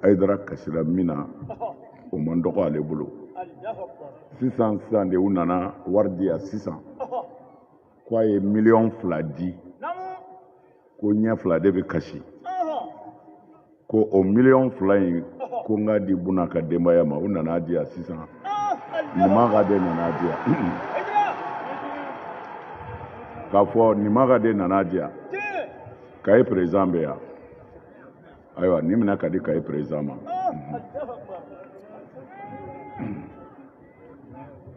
ayidara kasira min na o man dɔgɔ ale bolo sisan sisan de u nana wari di yan sisan ko a ye miliyɔn fila di ko ɲɛ fila de bɛ kasi ko o miliyɔn fila in ko n k'a di buna ka denbaya ma u nana di yan sisan nimaga de nana di yan k'a fɔ nimaga de nana di yan kaye perezan bɛ yan ayiwa nin minɛ k'a di kaye perezan ma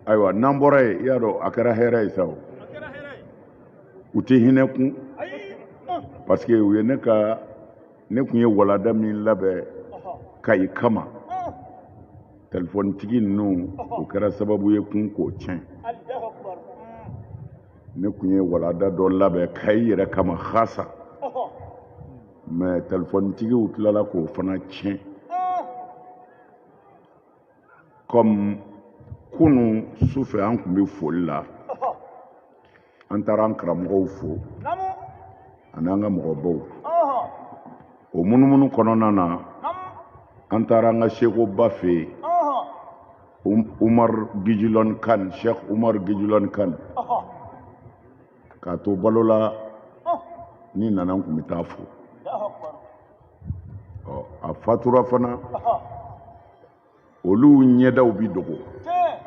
ayiwa n'an bɔra yen i y'a dɔn a kɛra hɛrɛ ye sa o u tɛ hinɛ kun parce que u ye ne ka ne kun ye walada min labɛn kayi kama telefɔnitigi ninnu o kɛra sababu ye kun k'o tiɲɛ ne kun ye walada dɔ labɛn kayi yɛrɛ kama hasa mɛ telefɔnitigiw tilala k'o fana tiɲɛ kɔmi kunu su fɛ an kun bɛ foli la an taara an karamɔgɔw fo ani an ka mɔgɔbaw o munumunu kɔnɔna na an taara an ka sekoba fɛ yen um, umar gijilɔn kan sheikh umar gijilɔn kan k'a to balo la ni nana n kun bɛ taa fo ɔ a fatura fana olu ɲɛdaw bi dogo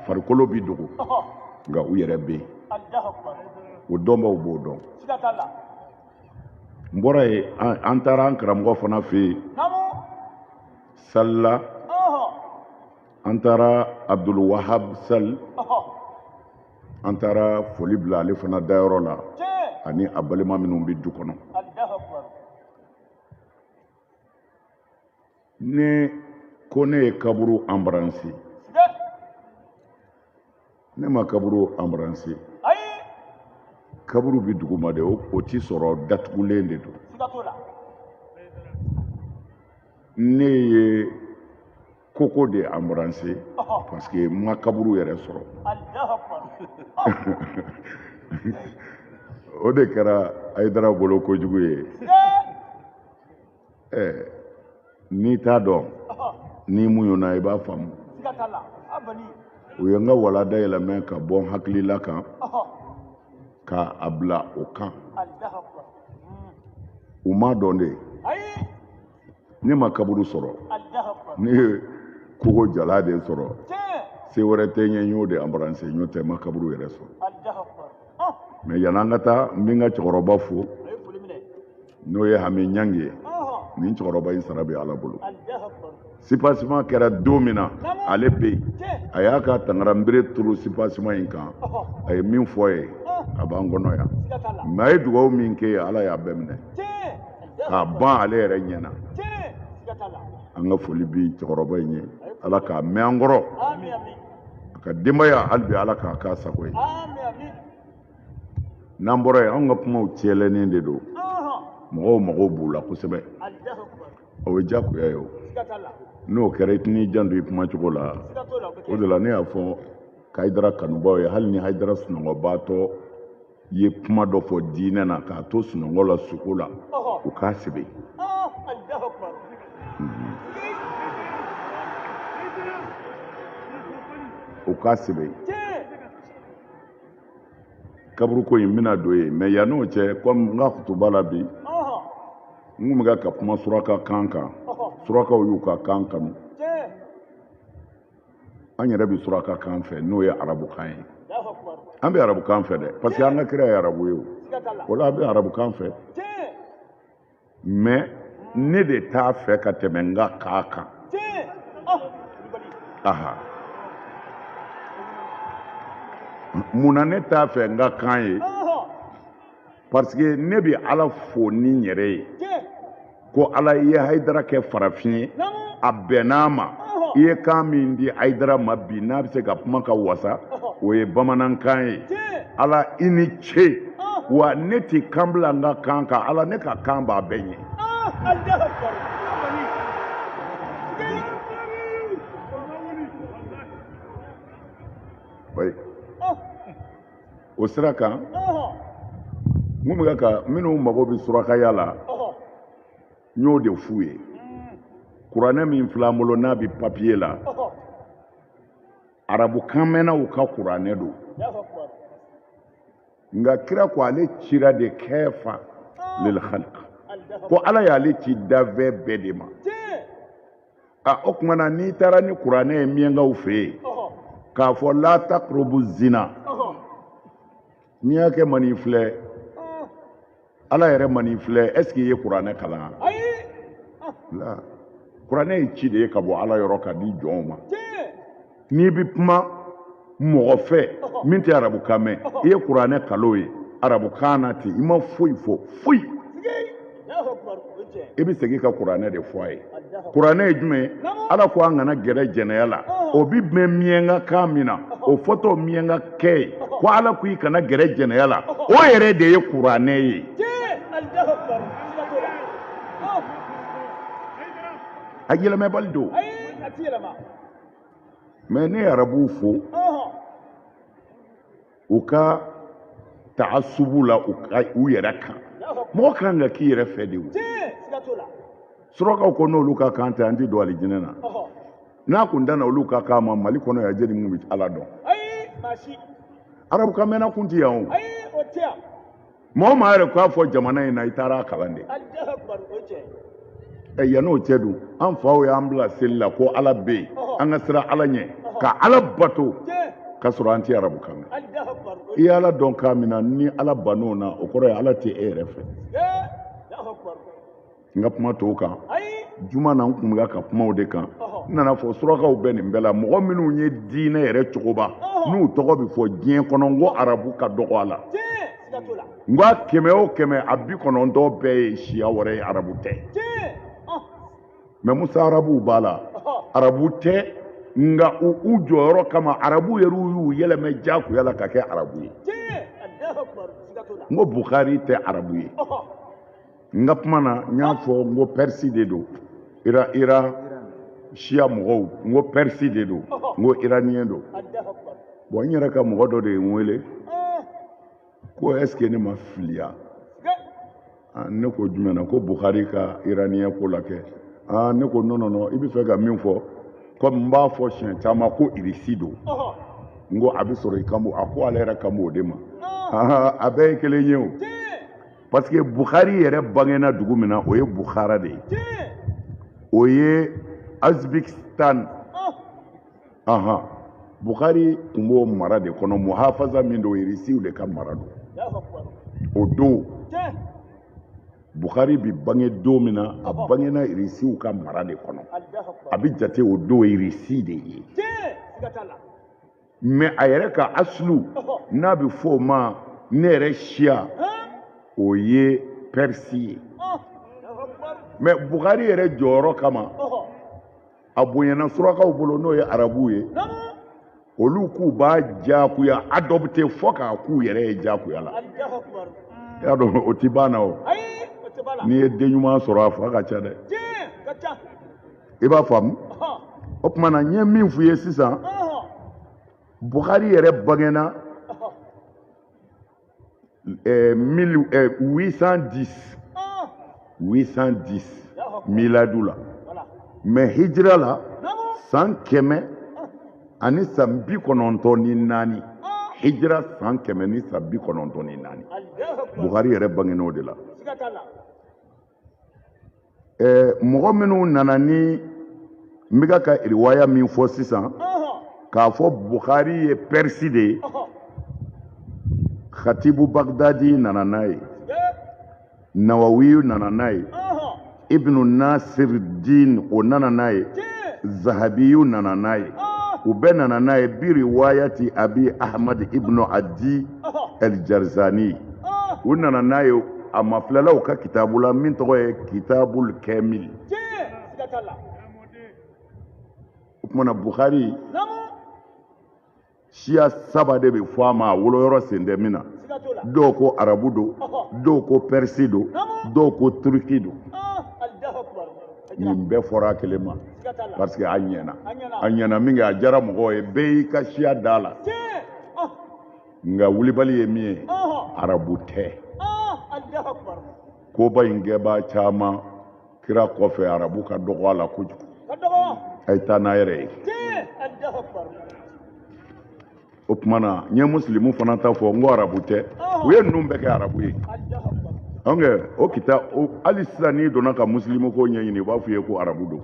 farikolo bi dogo nka u yɛrɛ bɛ yen o dɔnbaw b'o dɔn n bɔra yen an taara an karamɔgɔ fana fɛ yen sali la an taara abdul wahab sali an taara foli bila ale fana dayɔrɔ la ani a balima minnu bɛ du kɔnɔ ne ko ne ye kaburu embrasser ne ma kaburu embrasser kaburu bɛ duguma de o ti sɔrɔ datugulen de don ne ye koko de embrasser parce que n ma kaburu yɛrɛ sɔrɔ o de kɛra ayidara bolo kojugu ye eh, n'i t'a dɔn n'i muɲuna i b'a faamu u ye n ka walada yɛlɛmɛ ka bɔ n hakilila kan k'a bila o kan u m'a dɔn de ne ma kaburu sɔrɔ ne ye kogo jalan de sɔrɔ se wɛrɛ tɛ n ye n y'o de embrasser n'o tɛ n ma kaburu yɛrɛ sɔrɔ mais yan'an ka taa n bɛ n ka cɛkɔrɔba fo n'o ye hami ɲangi ye nin cɛkɔrɔba in sara bɛ ala bolo sipasiman kɛra don min na ale bɛ yen a y'a ka tangaranbere turu sipasiman in kan a ye min fɔ ye a b'an kɔnɔ yan mais a ye dugawu min kɛ ye ala y'a bɛɛ minɛ k'a ban ale yɛrɛ ɲɛ na an ka foli bɛ cɛkɔrɔba in ye ala k'a mɛn an kɔrɔ a ka denbaya hali bi ala k'a k'a sago ye n'an bɔra yen anw ka kumaw cɛlɛnnen de don mɔgɔw mago b'u la kosɛbɛ o ye diyagoya ye o n'o kɛra i tɛn'i janto i kuma cogo la o de la ne y'a fɔ hayidara kanubaaw ye hali ni hayidara sunɔgɔbaatɔ ye kuma dɔ fɔ diinɛ na k'a to sunɔgɔ la suko la u k'a sɛbɛn u k'a sɛbɛn kaburuko in bɛna don yen mais yann'o cɛ komi n ka kutuba la bi n kun bɛ ka kuma suraka kan kan surakaw y'u ka kan kanu an yɛrɛ bɛ suraka kan fɛ n'o ye arabukan ye an bɛ arabukan fɛ dɛ parce que an ka kira ye arabu ye o o la an bɛ arabukan fɛ mais ne de t'a fɛ ka tɛmɛ n ka kan kan aha mun na ne t'a fɛ n ka kan ye parce que ne bɛ ala fo ni n yɛrɛ ye ko ala i ye hayidara kɛ farafin ye a bɛnn'a ma i ye kan min di hayidara ma bi n'a bɛ se ka kuma ka wasa o ye bamanankan ye ala i ni ce wa ne tɛ kan bila n ka kan kan ala ne ka kan b'a bɛɛ ɲɛ o sira kan n kun bɛ ka minnu mago bɛ surakaya la n y'o de f'u ye kuranɛ min filɛ an bolo n'a bɛ papiye la arabukan mɛnnaw ka kuranɛ don nka kira ko ale cira de kaffa lil khalq ko ala y'ale ci danfɛn bɛɛ de ma a o tuma na n'i taara ni kuranɛ ye miyankaw fɛ yen k'a fɔ la taqrabu zina miyanka man'i filɛ ala yɛrɛ man'i filɛ est ce que i ye kuranɛ kalan la kuranɛ ye ci de ye ka bɔ ala yɔrɔ ka di jɔnw ma n'i bɛ kuma mɔgɔ fɛ min tɛ arabukan mɛn i ye kuranɛ kalan o ye arabukan na ten i ma foyi fɔ foyi i bɛ segin ka kuranɛ de fɔ a ye kuranɛ ye jumɛn ye ala ko an kana gɛrɛ jɛnɛya la o bɛ mɛn miyanka kan min na o fɔtɔ miyanka kɛ ye ko ala ko i kana gɛrɛ jɛnɛya la o yɛrɛ de ye kuranɛ ye a yɛlɛmɛbali don mɛ ne ye arabuw fo u ka taasubu la u yɛrɛ kan mɔgɔ kan ka k'i yɛrɛ fɛ de o surakaw ko n'olu ka kan tɛ an tɛ don alijinɛ na n'a kun danna olu ka kan ma mali kɔnɔ yan jeli mun bɛ ala dɔn arabukan mɛnna kun tɛ yan o mɔgɔ maa yɛrɛ k'a fɔ jamana in na i taara a kalan de ɛ yann'o cɛ dun an faw y'an bila seli la ko ala bɛ yen an ka siran ala ɲɛ ka ala bato k'a sɔrɔ an tɛ arabu kan mɛn i ye ala dɔn kan min na ni ala bann'o na o kɔrɔ ye ala tɛ e yɛrɛ fɛ n ka kuma tɔw kan juma na n kun bɛ ka kuma o de kan n nana a fɔ surakaw bɛ nin bɛɛ la mɔgɔ minnu ye diinɛ yɛrɛ cogoba n'u tɔgɔ bɛ fɔ diɲɛ kɔnɔ n ko arabu ka dɔgɔ a la n ko a kɛmɛ o kɛmɛ a bi kɔnɔntɔn bɛɛ ye siya wɛrɛ ye arabu tɛ mɛ mustaarabuw b'a la arabu tɛ nka u jɔyɔrɔ kama arabu yɛrɛ y'u yɛlɛmɛ jagoya la ka kɛ arabu ye n ko bukari tɛ arabu ye n ka kuma na n y'a fɔ n ko pɛrisi de don iran siya mɔgɔw n ko pɛrisi de don n ko iraniyɛn don bɔn n yɛrɛ ka mɔgɔ dɔ de ye n wele ko ɛsike ne ma fili wa ne ko jumɛn na ko bukari ka iraniyɛn ko la kɛ ne ko non non non i bɛ fɛ ka min fɔ komi n b'a fɔ siɲɛ caman ko irisi don n ko a bɛ sɔrɔ i kan b'o ma a ko ale yɛrɛ kan b'o de ma a bɛɛ ye kelen ye o parce que bukhari yɛrɛ bangena dugu min na o ye bukhara de ye o ye azbikistan oh. ahan bukhari tun b'o mara de kɔnɔ muhafaza min don irisiw de ka mara don o don bukhari bi bange don min na a bangena irisiw ka mara de kɔnɔ a bi jate o don irisi de ye mɛ a yɛrɛ ka aslu n'a bɛ fɔ o ma ne yɛrɛ siya o ye pɛrisi ye mɛ bukari yɛrɛ jɔyɔrɔ kama a bonyana surakaw bolo n'o ye arabuw ye olu k'u b'a diyagoya adopte fo k'a k'u yɛrɛ ye diyagoya la i y'a dɔn o tɛ bal'an na o n'i ye den ɲuman sɔrɔ a fa ka ca dɛ i b'a faamu o tuma na n ye min f'u ye sisan buhari yɛrɛ bangena 810 810 miladu la mais hijira la san kɛmɛ ani san bi kɔnɔntɔn ni naani hijira san kɛmɛ ni san bi kɔnɔntɔn ni naani buhari yɛrɛ bangen'o de la eh, mɔgɔ minnu nana ni n bɛ ka ka riwaya min fɔ sisan k'a fɔ buhari ye pɛrisi de ye khatibu bagdadi nana n'a ye nawawiyu nana n'a ye ibnu nasir din o nana n'a ye zahabiyu nana n'a ye u bɛɛ nana n'a ye bi riwayati abi ahmad ibnu adi ɛlijarizani u nana n'a ye a mafilɛlaw ka kitabu la min tɔgɔ ye kitabul kamil o tumana buhari siya saba de bɛ fɔ a ma a woloyɔrɔ sen tɛ min na dɔw ko arabu don dɔw ko pɛrisi don dɔw ko turiki don nin bɛɛ fɔra a kelen ma parce que a ɲɛna a ɲɛna min kɛ a diyara mɔgɔw ye bɛɛ y'i ka siya da a la nka wulibali ye min ye arabu tɛ koba in kɛbaa caman kira kɔfɛ arabu ka dɔgɔ a la kojugu a ye taa n'a yɛrɛ ye o tuma na n ye musilimu fana ta fɔ n ko arabu tɛ u ye ninnu bɛɛ kɛ arabu ye an kɛ o kita hali sisan n'i donna ka musilimu ko ɲɛɲini u b'a fɔ i ye ko arabu don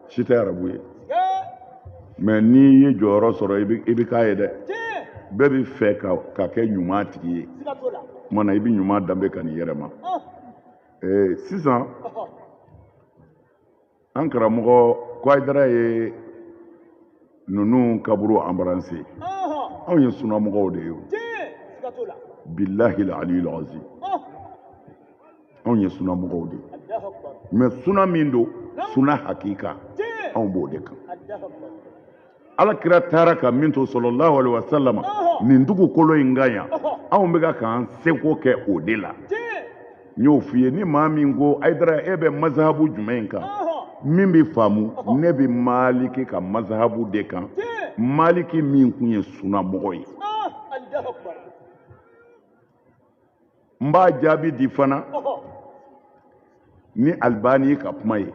si tɛ arabu ye mais n'i ye jɔyɔrɔ sɔrɔ i bɛ k'a ye dɛ bɛɛ bɛ fɛ ka kɛ ɲuman tigi ye o tuma na i bɛ ɲuman danbe ka n'i yɛrɛ ma sisan an karamɔgɔ ko ayidara ye ninnu kaburu embrasser anw ye sunamɔgɔw de ye o bilahi aliyul azim anw ye sunamɔgɔw de mais suna min don suna hakika anw b'o de kan ala kira taara ka min to salalahu alaihi wasalama nin dugukolo in kan yan anw bɛ ka k'an seko kɛ o de la n y'o f'i ye ni maa min ko ayidara e bɛ mazahabu jumɛn kan min bɛ faamu ne bɛ maliki ka mazahabu de kan maliki min kun ye sunamɔgɔ ye n b'a jaabi di fana ni alibani ka kuma ye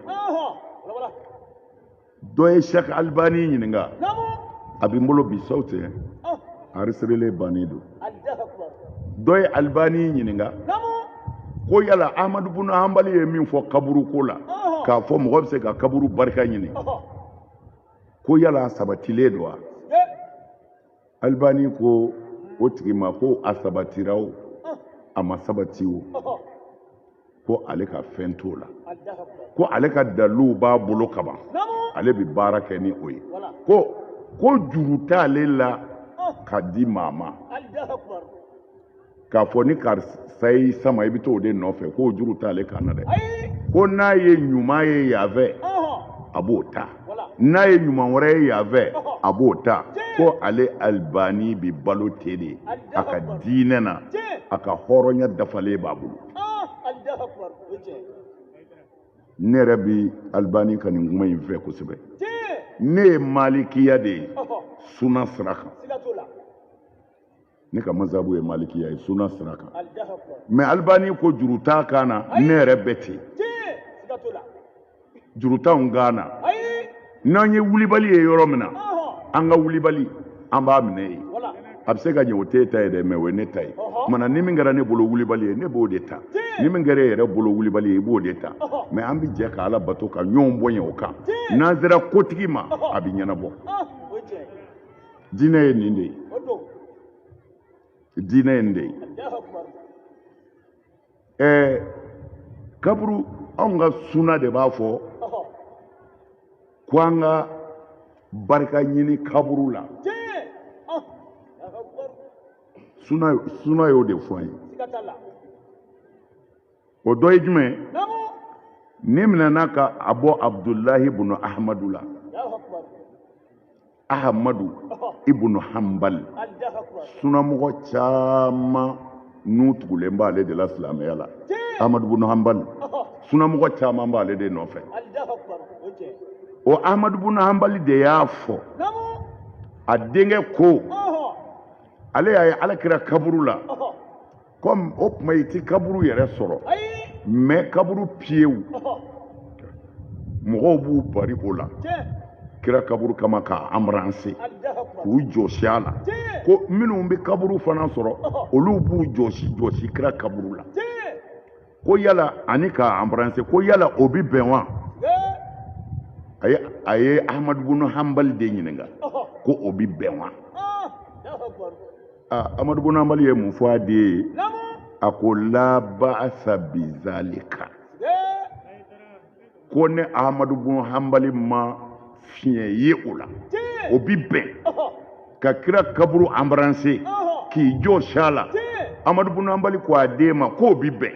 dɔ ye sɛki alibani ɲininka a bɛ n bolo bi sawuti anrezistirelen bannen don dɔ ye alibani ɲininka ko yala ahamadu bunu hanbali ye min fɔ kaburu ko la k'a fɔ mɔgɔ bɛ se ka kaburu barika ɲini ko yala a sabatilen don wa alibani ko o tigi ma ko a sabatira o a ma sabati o ko ale ka fɛn t'o la ko ale ka daliluw b'a bolo kaban ale bɛ baara kɛ ni o ye ko juru t'ale la ka di maa ma k'a fɔ ni karisa y'i sama i bɛ t'o de nɔfɛ k'o juru t'ale kan na dɛ ko n'a ye ɲuman ye yan fɛ a b'o ta n'a ye ɲuman wɛrɛ ye yan fɛ a b'o ta ko ale alibani bɛ balo ten de a ka diinɛ na a ka hɔrɔnya dafalen b'a bolo ne yɛrɛ bɛ alibani ka nin kuma in fɛ kosɛbɛ ne ye malikiya de ye suna sira kan ne ka mazabu ye malikiya ye suna sira kan mɛ alibani ko juru t'a kan na ne yɛrɛ bɛ ten juru t'anw kan na n'an ye wulibali ye yɔrɔ min na an ka wulibali an b'a minɛ yen a bɛ se ka ɲɛ o t'e ta ye dɛ mɛ o ye ne ta ye kuma na ni min kɛra ne bolo wulibali ye ne b'o de ta ni min kɛra e yɛrɛ bolo wulibali ye i b'o de ta mɛ an bɛ jɛ ka ala bato ka ɲɔgɔn bonya o kan n'an sera kotigi ma a bɛ ɲɛnabɔ diinɛ ye nin de ye diinɛ ye nin de ye ɛɛ kaburu anw ka suna de b'a fɔ ko an ka barika ɲini kaburu la suna y'o de fɔ an ye o dɔ ye jumɛn nin minɛna ka a bɔ abudulahi bunu ahamadu la ahamadu ibunu hanbali sunamɔgɔ caman n'u tugulen b'ale de la silamɛya la ahamadu bunu hanbali sunamɔgɔ caman b'ale de nɔfɛ o ahamadu bunu hanbali de y'a fɔ a denkɛ ko ale y'a ye ala kira kaburu la kɔmi o tuma i ti kaburu yɛrɛ sɔrɔ mɛ kaburu piyew mɔgɔw b'u bari o la kira kaburu kama k'a anbrase k'u jɔsi a la ko minnu bɛ kaburu fana sɔrɔ olu b'u jɔsi jɔsi kira kaburu la ko yala ani k'a anbrase ko yala o bɛ bɛn wa a ye ahamadu bunu hanbali de ɲininka ko o bɛ bɛn wa aa amadu bun hanbali ye mun fɔ a den ye a ko la baasa bizalika ko ne amadu bun hanbali ma fiɲɛ ye o la o bi bɛn ka kira kaburu anbaranse k'i jɔsi a la amadu bun hanbali ko a den ma k'o bi bɛn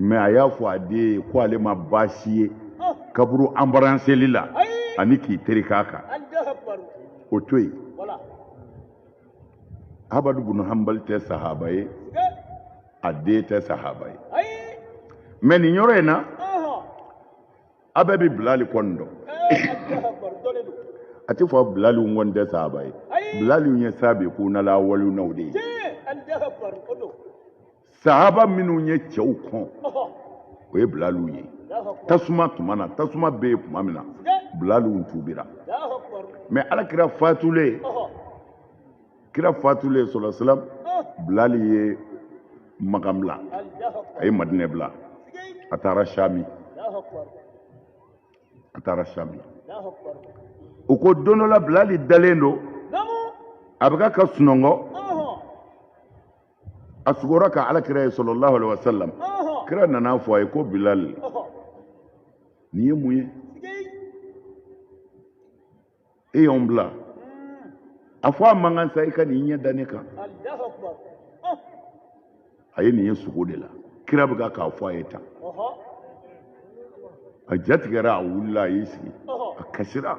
mɛ a y'a fɔ a den ye ko ale ma baasi ye kaburu anbaranseli la ani k'i tereke a kan o to yen amadu bun hanbali tɛ sahaba ye a den tɛ sahaba ye mɛ nin yɔrɔ in na a bɛɛ bɛ bilali kɔni dɔn a tɛ fɔ bilali kɔni tɛ sahaba ye bilali ye sabikunal awaluna o de ye sahaba minnu ye cɛw kɔn o ye bilaliw ye tasuma tuma na tasuma bɛ yen tuma min na bilaliw tuubira mɛ ala kira fatulen kira fatulen sɔlɔlahu alaihi wasallam bilali ye makan bila a ye madinɛ bila a taara sami a taara sami u ko don dɔ la bilali dalen don a bɛ ka ka sunɔgɔ a sugora ka ala kira ye sɔlɔlahu alaihi wasallam kira nana a fɔ a ye ko bilal nin ye mun ye e y'anw bila a fɔ a man kan sa i ka n'i ɲɛ da ne kan a ye nin ye sugo de la kira bɛ ka k'a fɔ a ye tan a jatigɛra a wulila a y'i sigi a kasira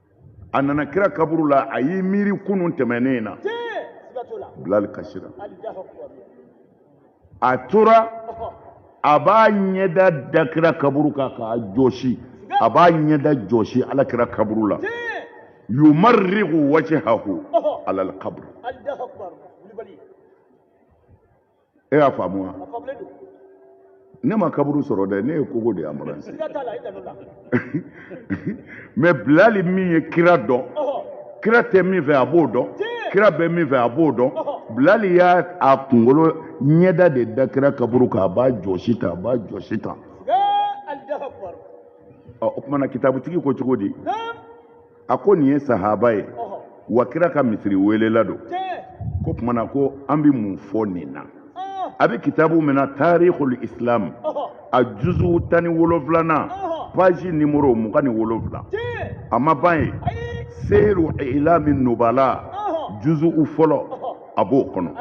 a nana kira kaburu la a y'i miiri kunun tɛmɛnen na bilali kasira a tora a b'a ɲɛda da kira kaburu kan k'a jɔsi a b'a ɲɛda jɔsi ala kira kaburu la yumarrigu wajhahu alal kabri e y'a faamu wa ne ma kaburu sɔrɔ dɛ ne ye kogo de ye anbaranse mɛ bilali min ye kira dɔn kira tɛ min fɛ a b'o dɔn kira bɛ min fɛ a b'o dɔn bilali y'a a kunkolo ɲɛda de da kira kaburu kan a b'a jɔsi tan a b'a jɔsi tan o tuma na kitabutigi ko cogo di a ko nin ye sahaba ye wa kira ka misiri welela don k'o tuma na ko an bɛ mun fɔ nin na a bɛ kitabu min na taarihul islam a juzu tan ni wolonfilanan paji nimoro mugan ni wolonfila a ma ban yen seyiru ilami nubala juzu fɔlɔ a b'o kɔnɔ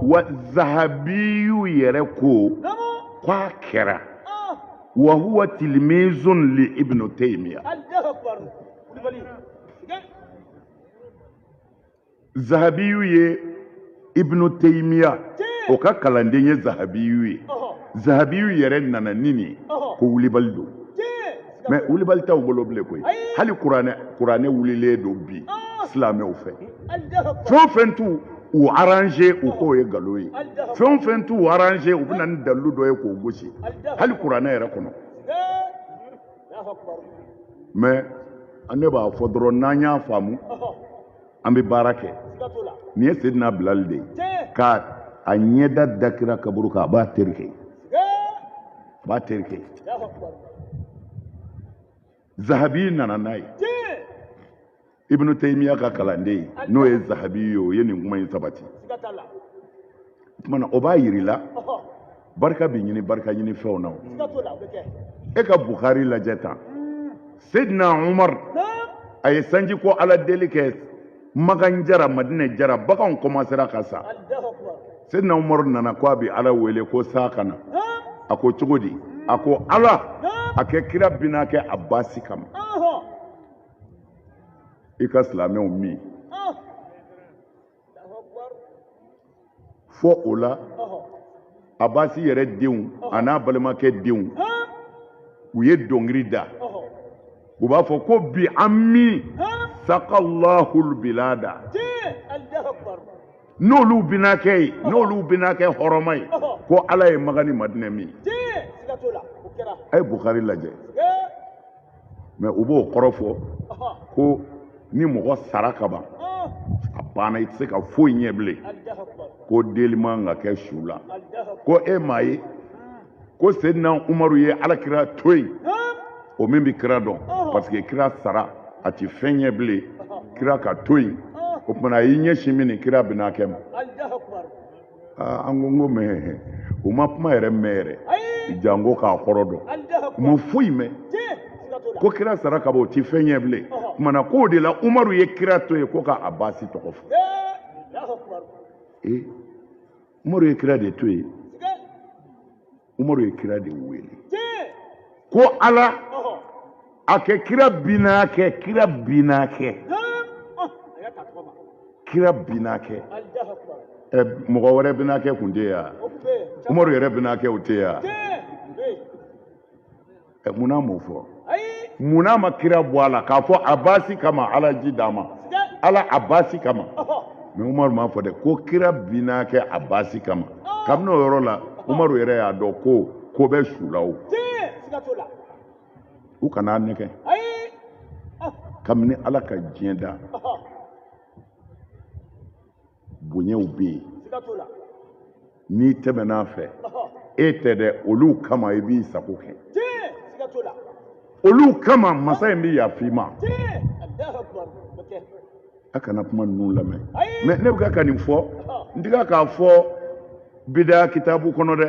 wa zahabiyu yɛrɛ ko k'a kɛra wa huwa tilmizun li ibn taymiya zahabiyu ye ibn taymiya o ka kalanden ye zahabiyu ye zahabiyu yɛrɛ nana ni nin ko wulibali don mɛ wulibali t'aw bolo bilen koyi hali kuranɛ wulilen don bi silamɛw fɛ fɛn fɛn t'u arranger u k'o ye nkalon ye fɛn fɛn t'u arranger u bɛ na ni dalilu dɔ ye k'o gosi hali kuranɛ yɛrɛ kɔnɔ mais ne b'a fɔ dɔrɔn n'an y'a faamu an bɛ baara kɛ nin ye sedina bilali de ye k'a ɲɛda da kira kaburu kan a b'a terike zahabi nana n'a ye ibnu taymiya ka kalanden n'o ye zahabi ye o ye nin kuma in sabati tumana o b'a yirila barika bɛ ɲini barika ɲini fɛnw na e ka bukari lajɛ tan hmm. sedina umar a ye sanji ko ala deli kɛ makan jara madinɛ jara baganw kɔmansera ka sa sedina umar nana ko a bɛ ala wele ko san ka na a ko cogo di a ko ala a kɛ kira binakɛ abasi kama i ka silamɛw min fɔ o la abasi yɛrɛ denw an'a balimakɛ denw u ye dɔnkili da u b'a fɔ ko bi ammi sakalahul bilada n'olu binakɛ ye n'olu binakɛ hɔrɔma ye ko ala ye makan ni madinɛ min a ye bukari lajɛ mɛ u b'o kɔrɔ fɔ ko ni mɔgɔ sara ka ban a banna i tɛ se ka foyi ɲɛ bilen ko deli man ka kɛ su la ko e m'a ye ko sedina umaru ye ala kira to yen o min bɛ kira dɔn parce que kira sara a tɛ fɛn ɲɛ bilen kira ka to yen o tumana a y'i ɲɛsin min ni kira binakɛ ma Ah, an ko n ko mɛ u ma kuma yɛrɛ mɛn yɛrɛ janko k'a kɔrɔ dɔn u ma foyi mɛn ko kira sara ka ban o ti fɛn ɲɛ bilen kumana k'o de la umaru ye kira to yen ko ka abasi tɔgɔ fɔ ee eh, umaru ye kira de to yen umaru ye kira de wele ko ala a kɛ kira binakɛ kira binakɛ kira binakɛ ɛ mɔgɔ wɛrɛ binakɛ kun tɛ yan umaru yɛrɛ binakɛ o tɛ yan. ɛ munn'a m'o fɔ munn'a ma kira bɔ a la k'a fɔ abasi kama ala ji d'an ma ala abasi kama mɛ umaru m'a fɔ dɛ ko kira binaakɛ abasi kama kabini o yɔrɔ la umaru yɛrɛ y'a dɔn ko ko bɛ su la o u kana a nɛgɛn kabini ala ka diɲɛ da bonyaw bɛ yen n'i tɛmɛn'a fɛ e tɛ dɛ olu kama i b'i sago kɛ olu kama masa in bɛ yafa i ma a kana kuma ninnu lamɛn mɛ ne bɛ ka ka nin fɔ n tɛ k'a fɔ bidaya kitabu kɔnɔ dɛ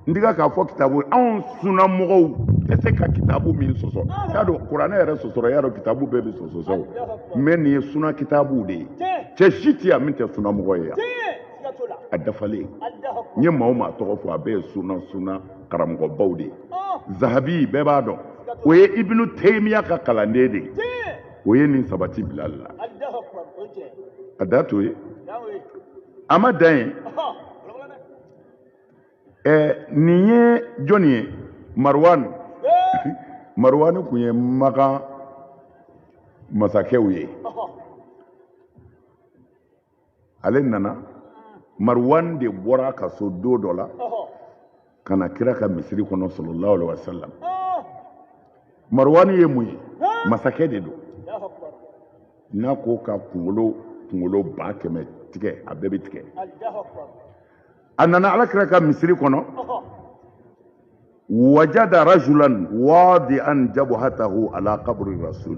n tɛ ka k'a fɔ kitabu anw sunna mɔgɔw tɛ se ka kitabu min sɔsɔ y'a dɔn kuranɛ yɛrɛ sɔsɔra y'a dɔn kitabu bɛɛ bɛ sɔsɔsɔ o mɛ nin ye sunna kitabu de ye cɛ si tɛ yan min tɛ sunna mɔgɔ ye yan a dafalen n ye maa o maa tɔgɔ fɔ a bɛɛ ye sunna sunna karamɔgɔbaw de ye zahabi bɛɛ b'a dɔn o ye ibinu teyimiya ka kalanden de ye o ye nin sabati bila la a da to ye a ma dan yen ɛɛ nin ye jɔni ye maruwanu maruwanu kun ye makan masakɛw ye ale nana maruwan de bɔra a ka so don dɔ la ka na kira ka misiri kɔnɔ sallallahu alaihi wasallam maruwani ye mun ye masakɛ de don n'a ko ka kunkolo kunkolo ba kɛmɛ tigɛ a bɛɛ bɛ tigɛ a nana ala kira ka misiri kɔnɔ wajada rajulan wadi'an jabuhatahu ala kaburi rasul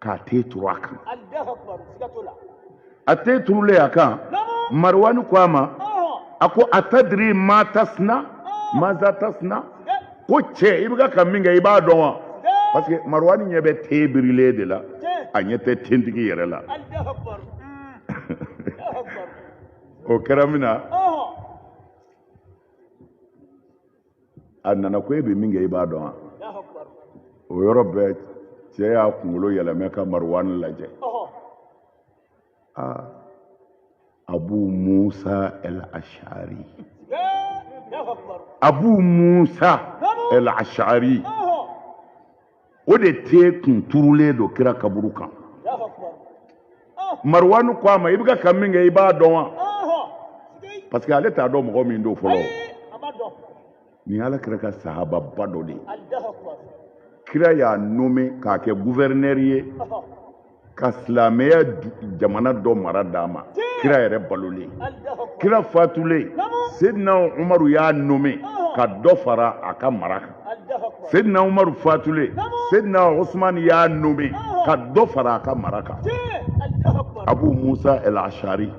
k'a ten turu a kan a ten turulen a kan maruwani ko a ma a ko atadiri ma tasina maza tasina ko cɛ i bɛ ka min kɛ i b'a dɔn wa parce que maruwani ɲɛ bɛ ten birilen de la a ɲɛ tɛ tentigi yɛrɛ la o kɛra min na a nana ko e bɛ min kɛ i b'a dɔn wa o yɔrɔ bɛɛ cɛ y'a kunkolo yɛlɛmɛ ka maruwani lajɛ aa abu musa el ashari abu musa el ashari o de ten kun turulen don kira kaburu kan maruwani ko a ma i bɛ ka min kɛ i b'a dɔn wa parce que ale t'a dɔn mɔgɔ min don fɔlɔ nin ye ala kira ka sahababa dɔ de ye kira y'a nommé k'a kɛ guvɛrinɛri ye ka silamɛya jamana dɔ mara d'a ma kira yɛrɛ balolen kira fatulen sedina umaru y'a nommé ka dɔ fara a ka mara kan sedina umaru fatulen sedina usumani y'a nommé ka dɔ fara a ka mara kan abu musa el ashari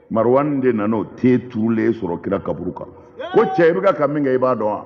marwan de nana o ten turulen sɔrɔ kira kaburu kan ko cɛ i bɛ ka ka min kɛ i b'a dɔn wa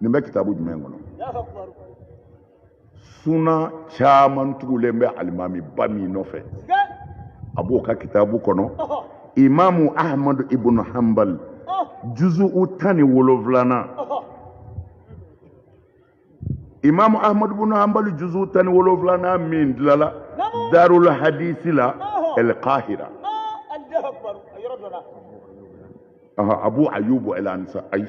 nin bɛ kitabu jumɛn kɔnɔ suna caman tugulen bɛ alimami ba min nɔfɛ a b'o ka kitabu kɔnɔ imamu ahmadu ibnu hanbal juzu'u tan ni wolonwulanan imamu ahmadu ibnu hanbal juzu'u tan ni wolonwulanan min dilala darul hadisi la el kahira abu ayubu el ansari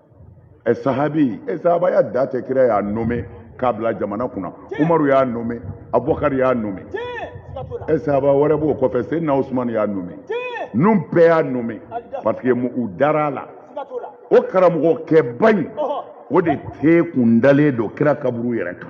ɛ sahabi ɛ sahabaya dan tɛ kira y'a nommé k'a bila jamana kunna umaru y'a nommé abubakari y'a nommé ɛ sahaba wɛrɛ b'o kɔfɛ sedina usumani y'a nommé ninnu bɛɛ y'a nommé parce que u dara a la o karamɔgɔkɛba in o de ten kun dalen don kira kaburu yɛrɛ kan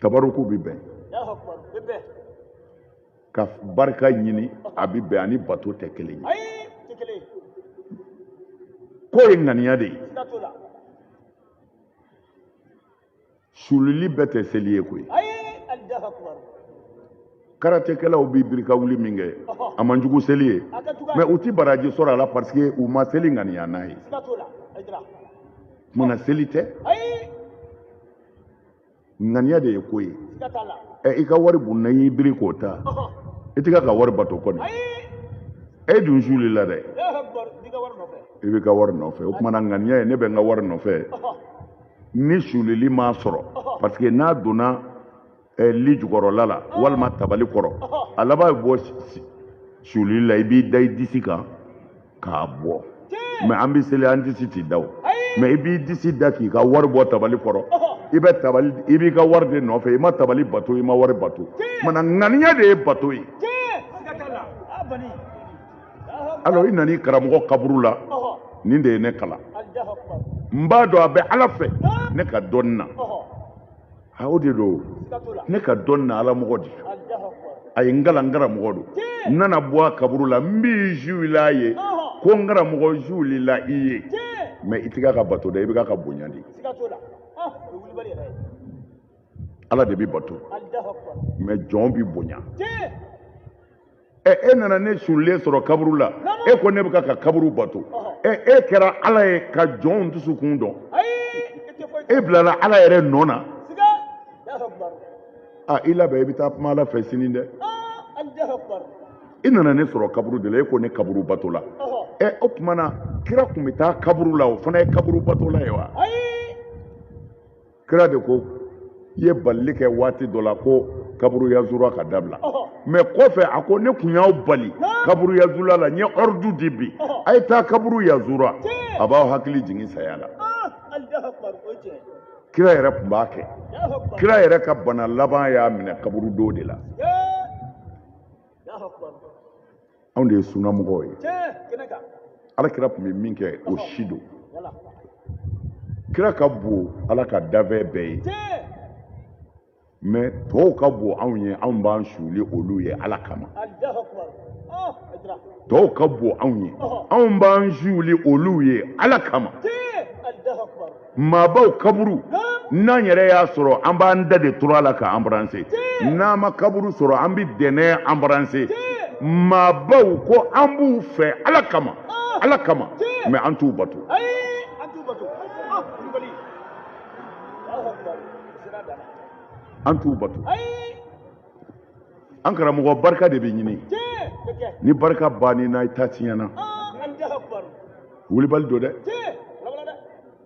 tabaruku bɛ bɛn ka barika ɲini a bɛ bɛn ani bato tɛ kelen ye ko ye ŋaniya de ye sululi bɛɛ tɛ seli ye koyi karatekɛlaw bɛ biri ka wuli min kɛ a man jugu seli ye mais u tɛ baraji sɔrɔ a la parce que u ma seli ŋaniya n'a ye kuma na seli tɛ ŋaniya de ye ko ye ɛ i ka wari bunna i y'i biri k'o ta i tɛ ka ka wari bato kɔni e dun suulila dɛ i bɛ ka wari nɔfɛ o kuma na ŋaniya ye ne bɛ n ka wari nɔfɛ ni sulili m'a sɔrɔ parce que n'a donna eh, lit jukɔrɔla la walima tabali kɔrɔ a laban bɛ bɔ suulili la i b'i da i disi kan k'a bɔ mais an bɛ seli an disi tɛ da o mais i b'i disi da k'i ka wari bɔ tabali kɔrɔ i bɛ tabali i b'i ka wari de nɔfɛ i ma tabali bato i ma wari bato kuma na ŋaniya de ye bato ye alors i nana i karamɔgɔ kaburu la nin de ye ne kalan n b'a dɔn a bɛ ala fɛ ne ka dɔnni na a o de don ne ka dɔn na ala mɔgɔ de a ye n kalan n karamɔgɔ don n nana bɔ a kaburu la n bɛ n suuli a ye ko n karamɔgɔ n suulila i ye mais i tɛ k'a bato dɛ i bɛ k'a bonya de ala de bɛ bato mais jɔn bɛ bonya ɛ e nana ne suulilen sɔrɔ kaburu la e ko ne bɛ ka ka kaburu bato ɛ e kɛra ala ye ka jɔnw dusukun dɔn e bilala ala yɛrɛ nɔ na a i labɛn i bɛ taa kuma ala fɛ sini dɛ i nana ne sɔrɔ kaburu de la e ko ne kaburu batola ɛ o tuma na kira tun bɛ taa kaburu la o fana ye kaburu batola ye wa. kira de kun ye balili kɛ waati dɔ la ko kaburuyazura ka dabila mɛ kɔfɛ a ko ne kun y'aw bali kaburuyazura la n ye ɔridu di bi a ye taa kaburu yazura a b'aw hakili jigin saya la kira yɛrɛ tun b'a kɛ kira yɛrɛ ka bana laban y'a minɛ kaburudo de la anw de ye sunamɔgɔw ye ala kira tun bɛ min kɛ o si don kira ka bon ala ka danfɛn bɛɛ ye mɛ tɔw ka bon anw ye anw b'an suuli olu ye ala kama tɔw ka bon anw ye anw b'an suuli olu ye ala kama maabaw kaburu n'an yɛrɛ y'a sɔrɔ an b'an da de turu a la k'a anbaranse n'an ma kaburu sɔrɔ an bɛ dɛnɛ anbaranse maabaw ko an b'u fɛ ala kama ah. ala kama mɛ an t'u bato ah, an t'u bato an karamɔgɔ barika de bɛ ɲini ni barika bann'i na i ta tiɲɛna ah, wulibali don dɛ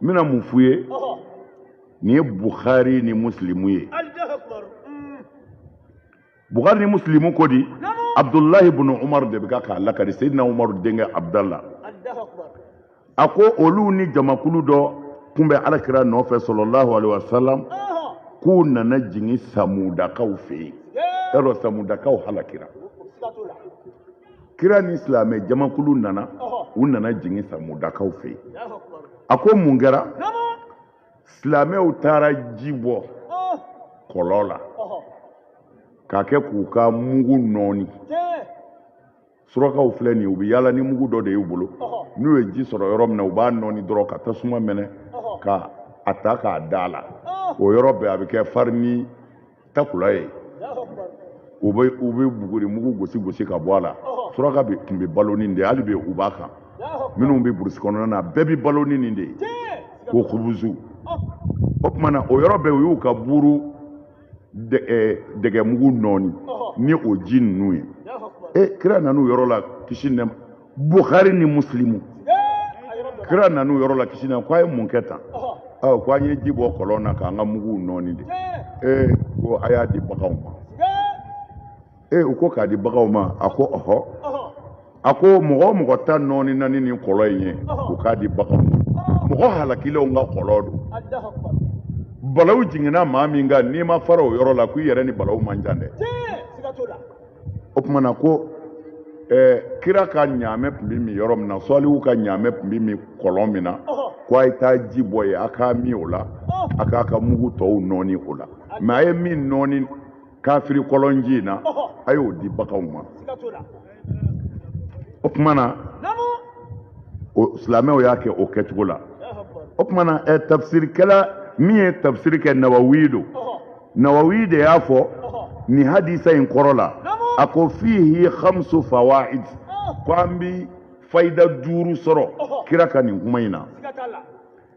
n bɛna mun f'u ye nin ye buhari ni musilimu ye mm. buhari ni musilimu ko di abdulahi bunu umaru de bɛ ka k'a lakali seyidina umaru denkɛ abudala a ko olu ni jamakulu dɔ kun bɛ alakira nɔfɛ salalahu alaihi wasalam k'u nana jigin samudakaw fɛ yen y'a dɔn samudakaw halakira kira ni silamɛ jamakulu nana u nana jigin samudakaw fɛ yen a ko mun kɛra silamɛw taara ji bɔ kɔlɔn la k'a kɛ k'u ka mugu nɔɔni surakaw filɛ nin ye u bɛ yaala ni mugu dɔ de y'u bolo n'u ye ji sɔrɔ yɔrɔ min na u b'a nɔɔni dɔrɔn ka tasuma mɛnɛ ka a ta k'a da a la o yɔrɔ bɛɛ a bɛ kɛ farini takula ye u bɛ u bɛ buguri mugu gosi gosi ka bɔ a la suraka bɛɛ tun bɛ balo ni nin de ye hali bi u b'a kan minnu bɛ burusi kɔnɔna na bɛɛ bɛ balo ni nin de ye ko kubuzu o tuma na o yɔrɔ bɛɛ u y'u ka buuru dɛgɛmugu nɔɔni ni o ji ninnu ye e kira nana o yɔrɔ la kisi nɛ buhari ni musilimu kira nana o yɔrɔ la kisi nɛ ko a ye mun kɛ tan ɔ ko an ye ji bɔ kɔlɔn na k'an ka muguw nɔɔni de ee ko a y'a di baganw ma e u ko k'a di baganw ma a ko ɔhɔ a ko mɔgɔ o mɔgɔ ta nɔɔnina ni nin kɔlɔn in ye u k'a di baganw ma mɔgɔ halakilenw ka kɔlɔn don balaw jiginna maa min kan n'i ma fara o yɔrɔ la ko i yɛrɛ ni balaw man jan dɛ o tuma na ko ɛɛ kira ka ɲaamɛ tun bɛ min yɔrɔ min na sɔlihu ka ɲaamɛ tun bɛ min kɔlɔn min na ko a ye taa ji bɔ yen a k'a min o la a k'a ka mugu tɔw nɔɔni o la mais a ye min nɔɔni kafiri kɔlɔnji in na a y'o di baganw ma o tuma na silamɛw y'a kɛ o kɛcogo la o tuma na ɛ tafsirikɛla min ye tafsiri kɛ nawawi don nawawi de y'a fɔ nin hadisa in kɔrɔ la a ko fihi khamsu fawaid ko an bi fayida duuru sɔrɔ kira ka nin kuma in na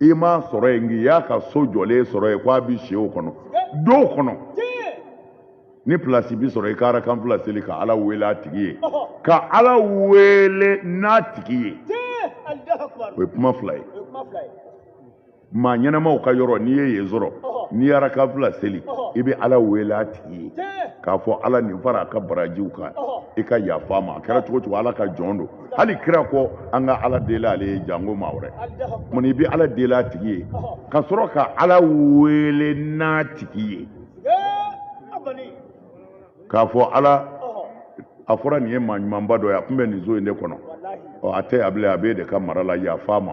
i m'a sɔrɔ yen nka i y'a ka so jɔlen sɔrɔ yen k'a bi si o kɔnɔ don o kɔnɔ ni pilasi bi sɔrɔ i ka arakan fila seli ka ala wele a tigi ye ka ala wele n'a tigi ye o ye kuma fila ye maa ɲɛnamaw ka yɔrɔ n'i ye yen sɔrɔ n'i y'arakan fila seli i bɛ ala wele a tigi ye k'a fɔ ala nin fara a ka barajiw kan i ka yaf'a ma a kɛra cogo cogo ala ka jɔn don hali kira ko an ka ala deli ale ye janko maa wɛrɛ mun i bɛ ala deli a tigi ye ka sɔrɔ ka ala wele n'a tigi ye k'a fɔ ala a fɔra nin ye maa ɲumanba dɔ ye a tun bɛ nin so in de kɔnɔ ɔ a tɛ yan bilen a b'e de ka mara la yaf'a ma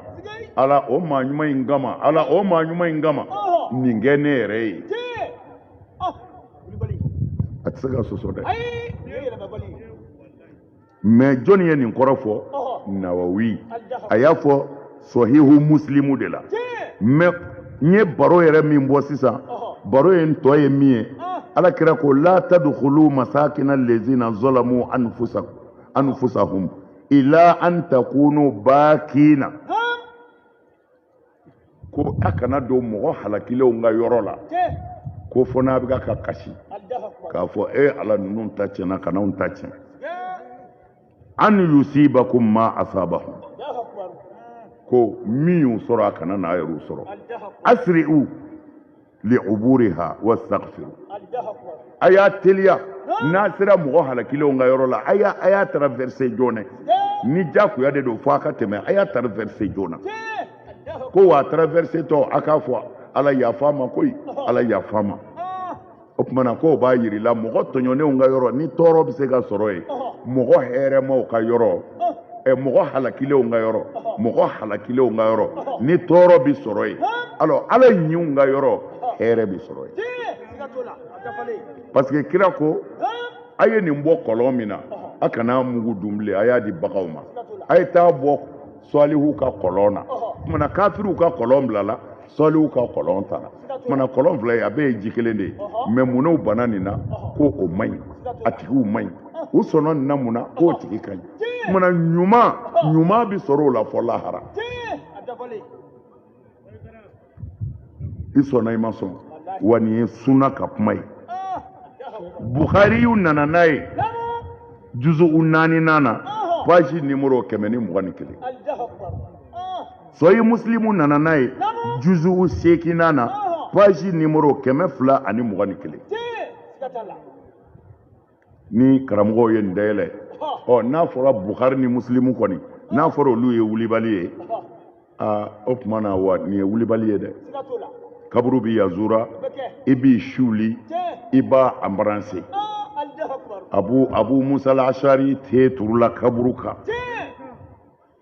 ala o maa ɲuman in kama ala o maa ɲuman in kama nin kɛ ne yɛrɛ ye a tɛ se ka sɔsɔ dɛ mais jɔnni ye nin kɔrɔ fɔ nawawi a y'a fɔ sahihu musilimu de la mais n ye baro yɛrɛ min bɔ sisan baro in tɔ ye min ye ala kira ko la tadkhulu masakina lezina zalamu anfusahum ila an takunu bakina ko a kana don mɔgɔ halakilenw ka yɔrɔ la ko fo n'a bɛ ka kasi k'a fɔ e ala ninnu ta tiɲɛna kan'anw ta tiɲɛ an yusibakum ma asabahum ko min y'u sɔrɔ a kana n'a yɛrɛw sɔrɔ asiri'u li uburiha wastaghfiru a y'a teliya n'a sera mɔgɔ halakilenw ka yɔrɔ la a y'a a y'a traverse joona ni jakuya de don fo a ka tɛmɛ a y'a traverse joona ko w'a traversetɔ a k'a fɔ ala yafa ma koyi ala yafa ma o tuma na k'o b'a yir'i la mɔgɔ tɔɲɔnenw ka yɔrɔ ni tɔɔrɔ bɛ se ka sɔrɔ yen mɔgɔ hɛrɛmaw ka yɔrɔ ɛ mɔgɔ halakilenw ka yɔrɔ mɔgɔ halakilenw ka yɔrɔ ni tɔɔrɔ bɛ sɔrɔ yen alors ala ɲinw ka yɔrɔ hɛrɛ bɛ sɔrɔ yen parce que kira ko a ye nin bɔ kɔlɔn min na a kana mugu dun bilen a y'a di baganw ma a ye taa bɔ sɔlihu ka kɔlɔn na kuma na kafiriw ka kɔlɔn bilala sɔlihu ka kɔlɔn tara tuma na kɔlɔn fila ye a bɛɛ ye ji kelen de ye mais mun na u banna nin na ko o man ɲi a tigiw man ɲi u sɔnna nin na mun na k'o tigi ka ɲi tuma na ɲuman ɲuman bɛ sɔrɔ o la fɔ lahara i sɔnna i ma sɔn wa nin ye sunna ka kuma ye buhariyu nana n'a ye juzu naaninan na page nimoro kɛmɛ ni mugan ni kelen sahih musilimu nana n'a ye juzu seeginnan na page nimoro kɛmɛ fila ani mugan ni kelen ni karamɔgɔw ye nin dayɛlɛ ɔ n'a fɔra buhari ni musilimu kɔni n'a fɔra olu ye wulibali ye aa o tuma na wa nin ye wulibali ye dɛ kaburu bi yazura i b'i suuli i b'a embrasser abu abu musa al ashari te turula kaburu kan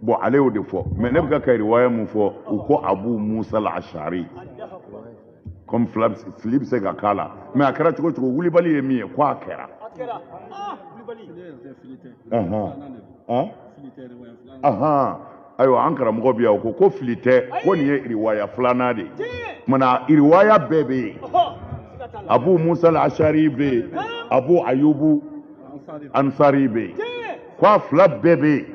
bon ale y'o de fɔ mais ne bɛ ka ka riwaya mun fɔ u ko abu musa al ashari comme fila fili bɛ se ka k'a la mais a kɛra cogo cogo wulibali ye min ye ko a kɛra ayiwa an karamɔgɔ bɛ yan o ko ko fili tɛ ko nin ye riwaya filanan de ye kuma na riwaya bɛɛ bɛ yen abu musa al ashari bɛ yen abu ayubu ansari bɛ yen ko a fila bɛɛ bɛ yen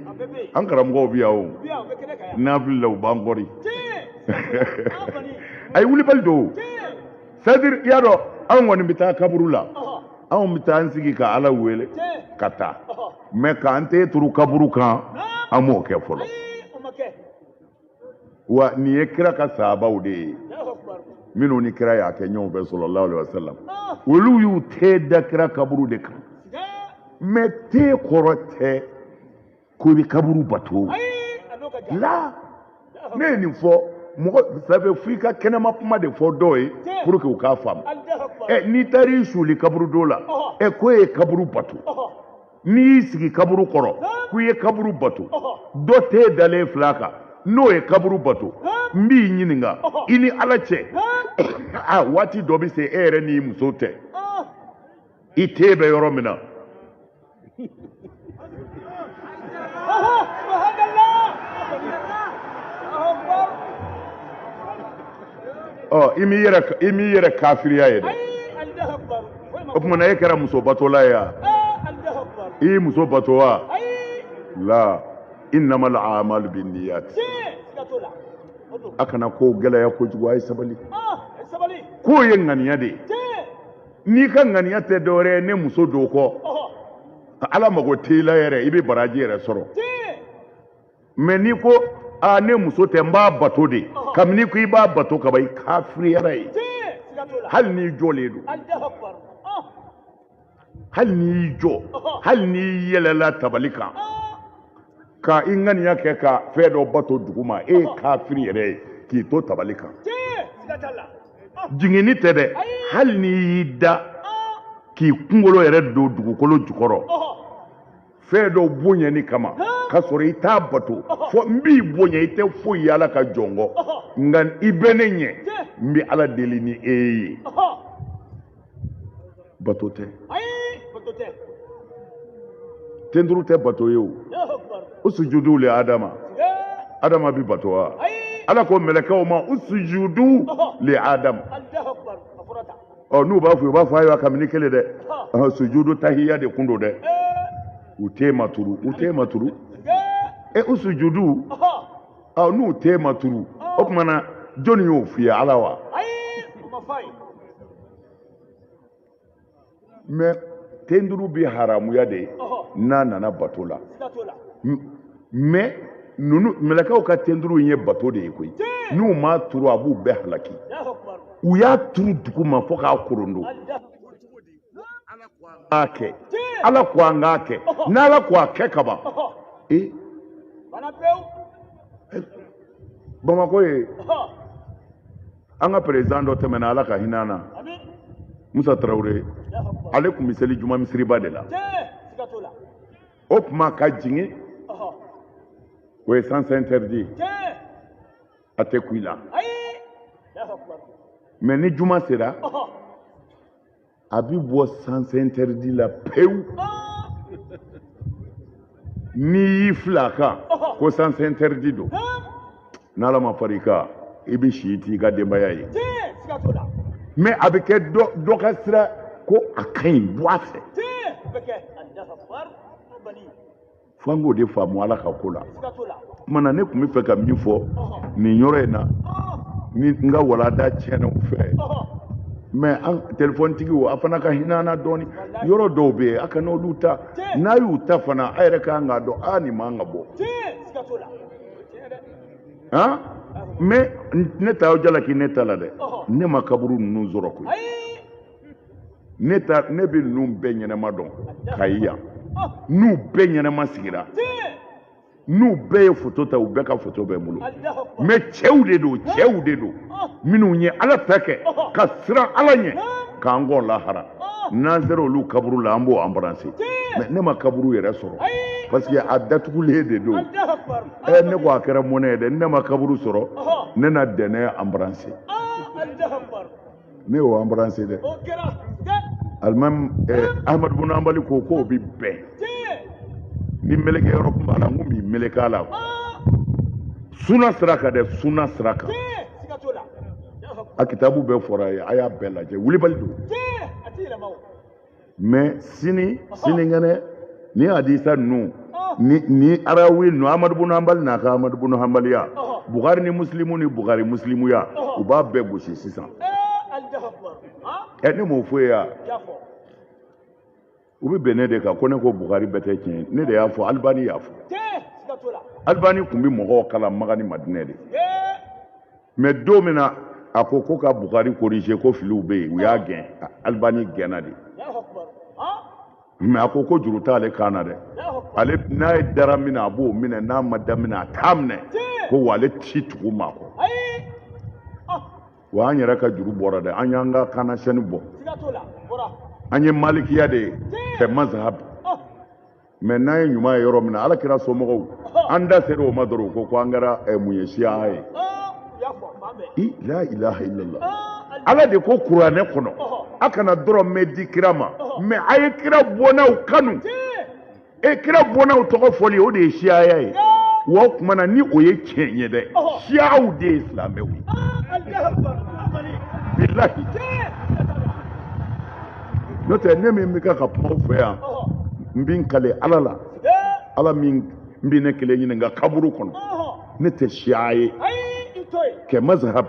an karamɔgɔw bɛ yan o n'an filila u b'an corriger wulibali don c'est-à-dire i y'a dɔn anw kɔni bɛ taa kaburu la anw bɛ taa an sigi ka ala wele ka taa mais k'an te turu kaburu kan an m'o kɛ fɔlɔ wa nin ye kira ka sahabaw de ye minnu ni kira y'a kɛ ɲɔgɔn fɛ salallahu alaihi wasallam olu y'u te da kira kaburu de kan mais te kɔrɔ tɛ ko i bɛ kaburu bato la ne ye nin fɔ mɔgɔ ça fait f'i ka kɛnɛma kuma de fɔ dɔw ye pour que u k'a faamu ɛ n'i taar'i suuli kaburudo la ɛ ko e ye kaburu bato n'i y'i sigi kaburu kɔrɔ k'u ye kaburu bato dɔ te dalen fil'a kan n'o ye kaburu bato n b'i ɲininka i ni ala cɛ a waati dɔ bɛ se e yɛrɛ n'i muso tɛ i te bɛ yɔrɔ min na ɔ i m'i yɛrɛ kafiriya ye dɛ o tuma na e kɛra muso batola ye wa i y'i muso bato wa la innama al amalu bin niyat a kana ko gɛlɛya kojugu a ye sabali k'o ye ŋaniya de ye n'i ka ŋaniya tɛ dɔwɛrɛ ye ne muso don kɔ ala mago t'i la yɛrɛ i bɛ baraji yɛrɛ sɔrɔ mɛ n'i ko a ne muso tɛ n b'a bato de kabini ko i b'a bato kaban i kafiriyara ye hali n'i jɔlen don hali n'i jɔ hali n'i yɛlɛla tabali kan ka i ŋaniya kɛ ka fɛn dɔ bato duguma e ye kafiri yɛrɛ ye k'i to tabali kan jiginni tɛ dɛ hali n'i y'i da k'i kunkolo yɛrɛ don dugukolo jukɔrɔ fɛn dɔ bonyani kama ka sɔrɔ i t'a bato fɔ n b'i bonya i tɛ foyi ye ala ka jɔn kɔ nka i bɛ ne ɲɛ n bɛ ala deli ni e ye bato tɛ tenturu tɛ bato ye o usujudu le adama adama bi bato wa ala ko mɛlɛkɛw ma usujudu le adama ɔ n'u b'a fɔ u b'a fɔ ayiwa kabini kelen dɛ ɔhɔn sujudu tahiya de kun don dɛ u ten ma turu u ten ma turu e usujudu ɔ n'u ten ma turu o tuma na jɔnni y'o f'i ye ala wa. mɛ tenturu bi haramuya de n'a nana bato la mɛ ninnu mɛlɛkɛw ka tenturu ye bato de ye koyi n'u m'a turu a b'u bɛɛ halaki u y'a turu duguma fo k'a korondo a kɛ ala ko an k'a kɛ n'ala ko a kɛ kaban ee bamakɔ ye an ka président dɔ tɛmɛna ala ka hinɛ a na musa tarawele ale tun bɛ seli juma misiriba de la o tuma ka jigin o ye sens interdit a tɛ kun i la mɛ ni juma sera a bɛ bɔ sens interdit la pewu n'i y'i fili a kan ko sens interdit don. n'ala ma fara i kan i bɛ si i t'i ka denbaya ye mɛ a bɛ kɛ dɔ ka sira ko a ka ɲi bɔ a fɛ fo an k'o de faamu ala ka ko la tuma na ne tun bɛ fɛ ka min fɔ nin yɔrɔ in na ni n ka walanda tiɲɛna u fɛ mɛ an tɛlifɔntigiw a fana ka hinɛ an na dɔɔni yɔrɔ dɔw bɛ yen a kana olu ta n'a y'u ta fana a yɛrɛ ka kan k'a dɔn a nin man kan ka bɔ han mɛ ne t'aw jalaki ne ta la dɛ ne ma kaburu ninnu sɔrɔ koyi ne ta ne bɛ ninnu bɛɛ ɲɛnɛma dɔn ka ye yan n'u bɛɛ ɲɛnɛma sigira n'u bɛɛ ye foto ta u bɛɛ ka foto bɛ n bolo mɛ cɛw de don cɛw de don minnu ye ala ta kɛ ka siran ala ɲɛ k'an kɔn lahara n'an sera olu kaburu la an b'o anbaranse mɛ ne ma kaburu yɛrɛ sɔrɔ parce que a datugulen de don ɛ ne ko a kɛra mɔnɛ ye dɛ ne ma kaburu sɔrɔ ne na dɛnɛ anbaranse ne y'o anbaranse dɛ alimami eh, ahamadu bunu hanbali ko k'o bi bɛn ni meleke yɔrɔ tun b'a la n kun b'i meleke a la ah! suna sira kan dɛ suna sira kan a kitabu bɛɛ fɔra ye a y'a bɛɛ lajɛ wulibali don mɛ sini sininkɛnɛ ni hadisa ninnu ni ni arawi ninnu amadu bunu hanbali n'a ka amadu bunu hanbaliya bukari ni musilimu ni bukari musilimuya u b'a bɛɛ gosi sisan ɛ ne m'o fɔ ye ya u bɛ bin ne de kan ko ne ko bukari bɛɛ tɛ tiɲɛ ne de y'a fɔ alibani y'a fɔ alibani tun bɛ mɔgɔw kalan maka ni madinɛ de mɛ don min na a ko ko ka bukari korije ko filiw bɛ yen u y'a gɛn alibani gɛnna de mɛ a ko ko juru t'ale kan na dɛ ale n'a ye dara min na a b'o minɛ n'a ma da min na a t'a minɛ ko wa ale ti tugu maa kɔ wa an yɛrɛ ka juru bɔra dɛ an y'an ka kannasɛni bɔ an ye malikiya de ye kɛ mazahabu mɛ n'an ye ɲuman ye yɔrɔ min na ala kira somɔgɔw an da sera o ma dɔrɔn ko ko an kɛra eh, mun ye siya ye i la ilaha illallah ala de ko kuranɛ kɔnɔ a kana dɔrɔmɛ di kira ma mɛ a ye kira bɔnnaw kanu e kira bɔnnaw tɔgɔ fɔli o de ye siyaya ye wa o tuma na ni o ye tiɲɛ ye dɛ siyaw de ye silamɛw ye bilahi n'o tɛ ne min bɛ kɛ ka kuma aw fɛ yan n bɛ n kale ala la ala min bɛ ne kelen ɲininka kaburu kɔnɔ ne tɛ siya ye kɛ mazahab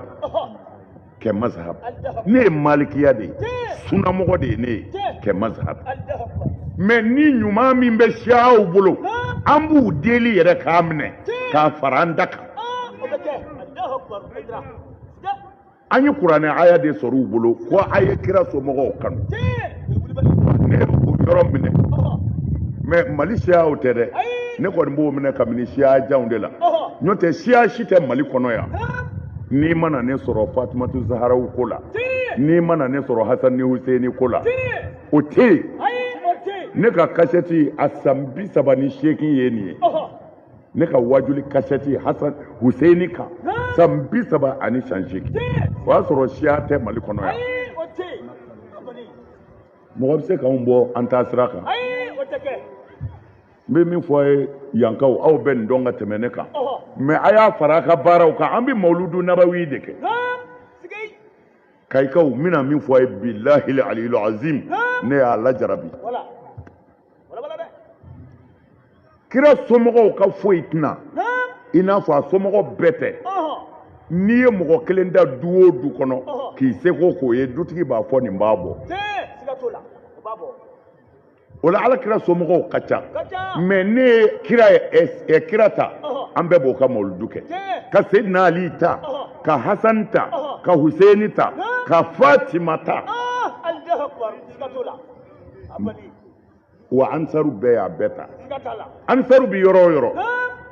kɛ mazahab ne ye malikiya de ye sunamɔgɔ de ye ne ye kɛ mazahab mɛ ni ɲuman min bɛ siyaw bolo an b'u deli yɛrɛ k'a minɛ k'a fara an ta kan an ye kuranɛ aya de sɔrɔ u bolo ko a ye kira somɔgɔw kanu ne o yɔrɔ minɛ mɛ mali siyaw tɛ dɛ ne kɔni b'o minɛ kabini siya janw de la n'o tɛ siya si tɛ mali kɔnɔ yan n'i mana ne sɔrɔ fatumatu zaharaw ko la n'i mana ne sɔrɔ hasan ni huseni ko la o tɛ yen ne ka kasɛti a san bi saba ni seegin ye nin ye ne ka wajuli kasɛti hasan huseini kan san bi saba ani san seegin o y'a sɔrɔ siya tɛ mali kɔnɔ yan mɔgɔ bɛ se k'anw bɔ an taa sira kan n bɛ min fɔ a ye yankaw aw bɛ nin dɔn ka tɛmɛ ne kan mɛ a y'a fara a ka baaraw kan an bɛ mawuludu nabawi de kɛ kayikaw n bɛna min fɔ a ye bilahil aliyil azim ne y'a lajarabi kira somɔgɔw ka foyi tɛna i n'a fɔ a somɔgɔ bɛɛ tɛ n'i ye mɔgɔ kelen da du o du kɔnɔ k'i seko k'o ye dutigi b'a fɔ nin b'a bɔ o la ala kira somɔgɔw ka ca mɛ ne ye kira ye kira ta an bɛɛ b'o ka mawuludu kɛ ka sedina ali ta ka hasani ta ka huseini ta ka fatima ta wa ansaru bɛɛ y'a bɛɛ ta ansaru bi yɔrɔ o yɔrɔ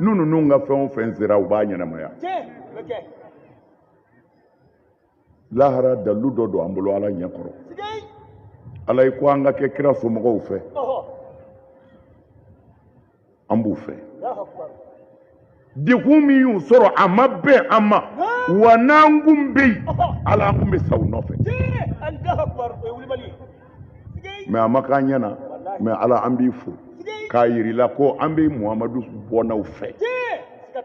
n'u ninnu ka fɛn o fɛn sera u b'a ɲɛnamaya lahara dalilu dɔ don an bolo ala ɲɛ kɔrɔ ala i ko an ka kɛ kira somɔgɔw fɛ an b'u fɛ degun min y'u sɔrɔ a ma bɛn an ma wa n'an kun bɛ yen ala an kun bɛ sa u nɔfɛ mɛ a ma k'an ɲɛ na mɛ ala an b'i fo k'a yir'i la ko an bɛ muhamadu bɔnnaw fɛ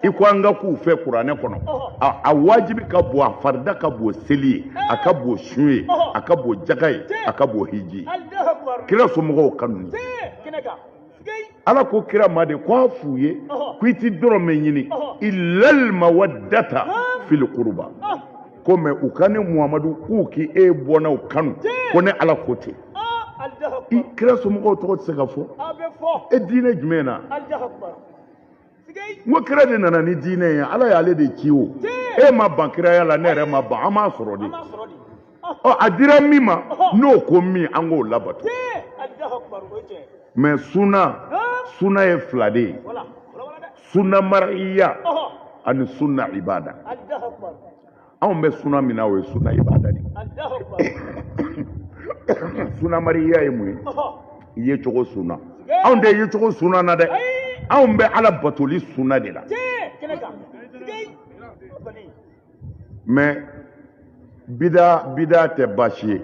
i ko an ka k'u fɛ kuranɛ kɔnɔ a wajibi ka bon a farida ka bon seli ye a ka bon sun ye a ka bon jaga ye a ka bon hiji ye kira somɔgɔw kanu ye ala ko kira ma de ko a f'u ye ko i ti dɔrɔmɛ ɲini ilal mawaddata fil qurba ko mɛ u ka ne muhamadu k'u k'i e bɔnnaw kanu ko ne ala ko ten i kira somɔgɔw tɔgɔ tɛ se ka fɔ e diinɛ jumɛn na n ko kira de nana ni diinɛ ye ala y'ale de ci o e ma ban kiraya la ne yɛrɛ ma ban an m'a sɔrɔ de ɔ a dira min ma n'o ko min an k'o labato mɛ suna suna ye fila de ye suna mariya ani suna ibada anw bɛ suna min na o ye suna ibada de suna mariya ye mun ye i ye cogo suna anw tɛ ye cogo suna na dɛ anw bɛ ala batoli suna de la mɛ bida tɛ baasi ye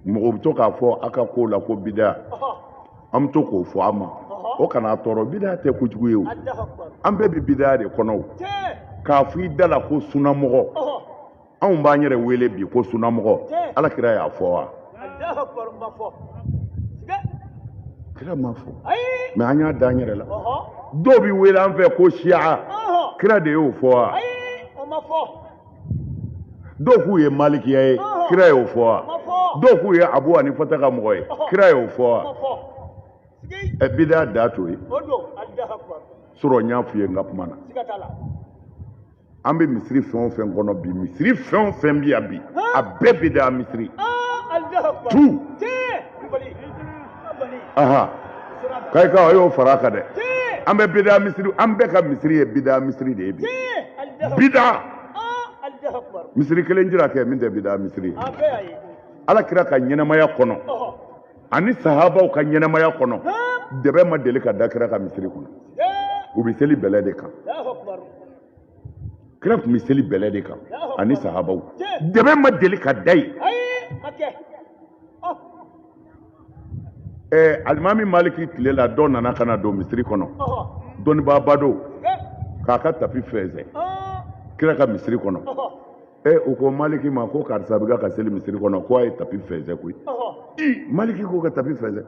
mɔgɔ bɛ to k'a fɔ a ka ko la ko bida an bɛ to k'o fɔ a ma o kana tɔɔrɔ bida tɛ kojugu ye o an bɛɛ bɛ bida de kɔnɔ o k'a fɔ i da la ko sunamɔgɔ anw b'an yɛrɛ wele bi ko sunamɔgɔ ala kira y'a fɔ wa kira m'a fɔ mɛ an y'a da an yɛrɛ la dɔw bɛ wele an fɛ ko siya kira de y'o fɔ wa dɔw k'u ye malikiya ye kira y'o fɔ wa dɔw k'u ye abu hanifata ka mɔgɔ ye kira y'o fɔ wa ɛ bida da to yen sɔrɔ n y'a f'i ye n ka kuma na an bɛ misiri fɛn o fɛn kɔnɔ bi misiri fɛn o fɛn bi yan bi a bɛɛ bida misiri tu k'a ka a y'o fara a kan dɛ an bɛ bida misiri an bɛɛ ka misiri ye bida misiri de ye bi bida misiri kelen jira kɛ min tɛ bida misiri ye ala kira ka ɲɛnamaya kɔnɔ ani sahabaw ka ɲɛnamaya kɔnɔ dɛbɛ ma deli ka da kira ka misiri kɔnɔ u bɛ seli bɛlɛ de kan kira tun bɛ seli bɛlɛ de kan ani sahabaw dɛbɛ ma deli ka da yen ɛɛ alimami maliki tile la dɔ nana ka na don misiri kɔnɔ dɔnnibaaba don k'a ka tapi fɛnsɛn kira ka misiri kɔnɔ ɛ u ko maliki ma ko karisa bɛ ka seli misiri kɔnɔ ko a ye tapi fɛnsɛ koyi maliki ko ka tapi fɛnsɛ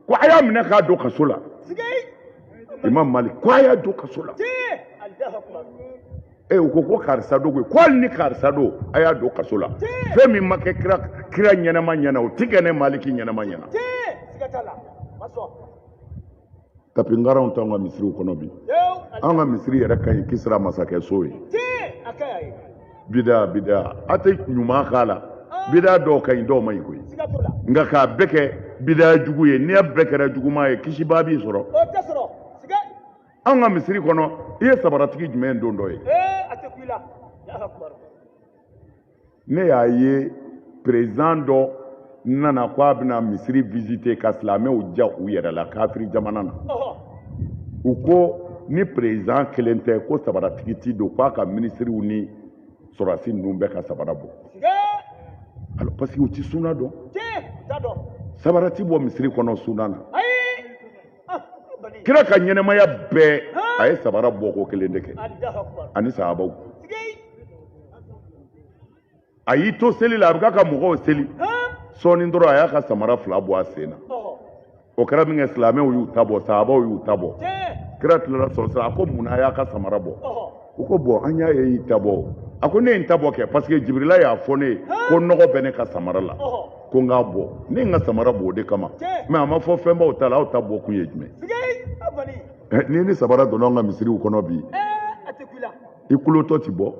ko a y'a minɛ k'a don kaso la imam malik ko a y'a don kaso la e u ko ko karisa don koyi ko hali ni karisa don a y'a don kaso la fɛn min ma kɛ kira ɲɛnama ɲɛna o ti kɛ ne maliki ɲɛnama ɲɛna tapi ngaraw t'anw ka misiriw kɔnɔ bi anw ka misiri yɛrɛ ka ɲi kisira masakɛ so ye bidaa bidaa a tɛ ɲuman k'a la ah. bidaa dɔw ka ɲi dɔw man ɲi koyi nka k'a bɛɛ kɛ bidaa jugu ye n'a bɛɛ kɛra juguman ye kisibaa bi sɔrɔ anw ka misiri kɔnɔ i ye sabaratigi jumɛn dontɔ ye eh, ne y'a ye perezidan dɔ nana ko a bɛna misiri visite ka silamɛw diya u yɛrɛ la kafiri jamana na u ko ni perezidan kelen tɛ ko sabaratigi ti don k'a ka minisiriw ni sɔrɔdasi ninnu bɛɛ ka sabara bɔ alors parce que u ti suna dɔn sabara ti bɔ misiri kɔnɔ suna na kira ka ɲɛnamaya bɛɛ a ye sabara bɔko kelen de kɛ ani sahabaw a y'i to seli la a bɛ k'a ka mɔgɔw seli sɔɔni dɔrɔn a y'a ka samara fila bɔ a sen na o kɛra min kɛ silamɛw y'u ta bɔ sahabaw y'u ta bɔ kira tilara sɔrɔ sisan a ko mun na a y'a ka samara bɔ u ko bon an y'a ye y'i ta bɔ a ko ne ye n ta bɔ kɛ parce que jibirila y'a fɔ ne ye ko nɔgɔ bɛ ne ka samara la ko n k'a bɔ ne ye n ka samara bɔ o de kama mais a ma fɔ fɛn b'aw ta la aw ta bɔ kun ye jumɛn eh, ni ni sabara donna an ka misiriw kɔnɔ bi eh, i kulotɔ ti bɔ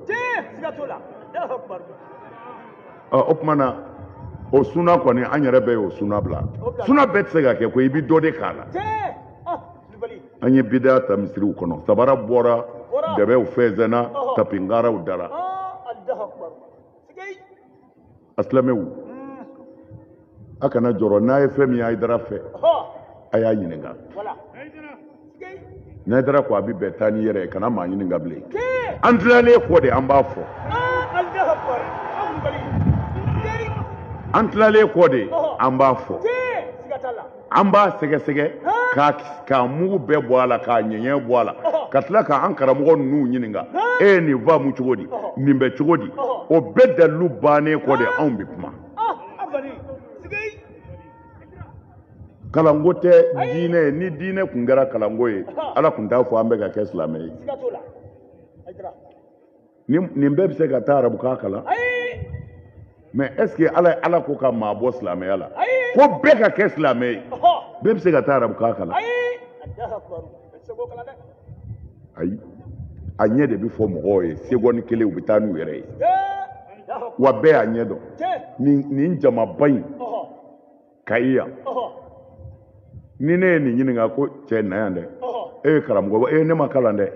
ah, o tuma na o suna kɔni an yɛrɛ bɛɛ y'o suna bila suna bɛɛ tɛ se ka kɛ ko i bɛ dɔ de k'a la an ye bida ta misiriw kɔnɔ sabara bɔra dɛbɛw fɛnsɛnna tapi ngaraw dara a silamɛw hmm. a kana jɔrɔ n'a ye fɛn min ye ayidara fɛ a y'a ɲininka n'ayidara ko a bɛ bɛn taa n'i yɛrɛ ye kana maa ɲininka bilen an tilalen kɔ de an b'a fɔ an tilalen kɔ de an b'a fɔ an b'a sɛgɛsɛgɛ k'a mugu bɛɛ bɔ a la k'a ɲɛɲɛ bɔ a la ka tila k'an karamɔgɔ ninnu ɲininka e ye nin faamu cogo di nin bɛ cogo di o bɛɛ dalilu bannen kɔ de anw bɛ kuma kalanko tɛ diinɛ ye ni diinɛ tun kɛra kalanko ye ala tun t'a fɔ an bɛɛ ka kɛ silamɛ ye nin bɛɛ bɛ se ka taa arabukan kalan mais est-ce que ala ko ka maa bɔ silamɛya la ko bɛɛ ka kɛ silamɛ ye bɛɛ bɛ se ka taa arabukan kalan ayi a ɲɛ de bɛ fɔ mɔgɔw ye seconde kelen u bɛ taa n'u yɛrɛ ye wa bɛɛ y'a ɲɛ dɔn nin jamaba in kayi yan ni ne ye nin ɲininka ko cɛ na yan dɛ eh karamɔgɔ ne ma kalan dɛ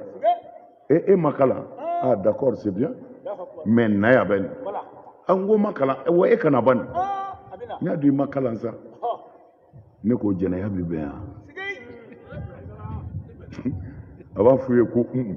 e e ma kalan ah d'accord c'est bien mais na yan bɛ nin an ah, ko ma kalan wa e kana ban nin n y'a dɔn i ma kalan sa ne ko jɛnɛya bɛ bɛn yan a b'a f'u ye ko un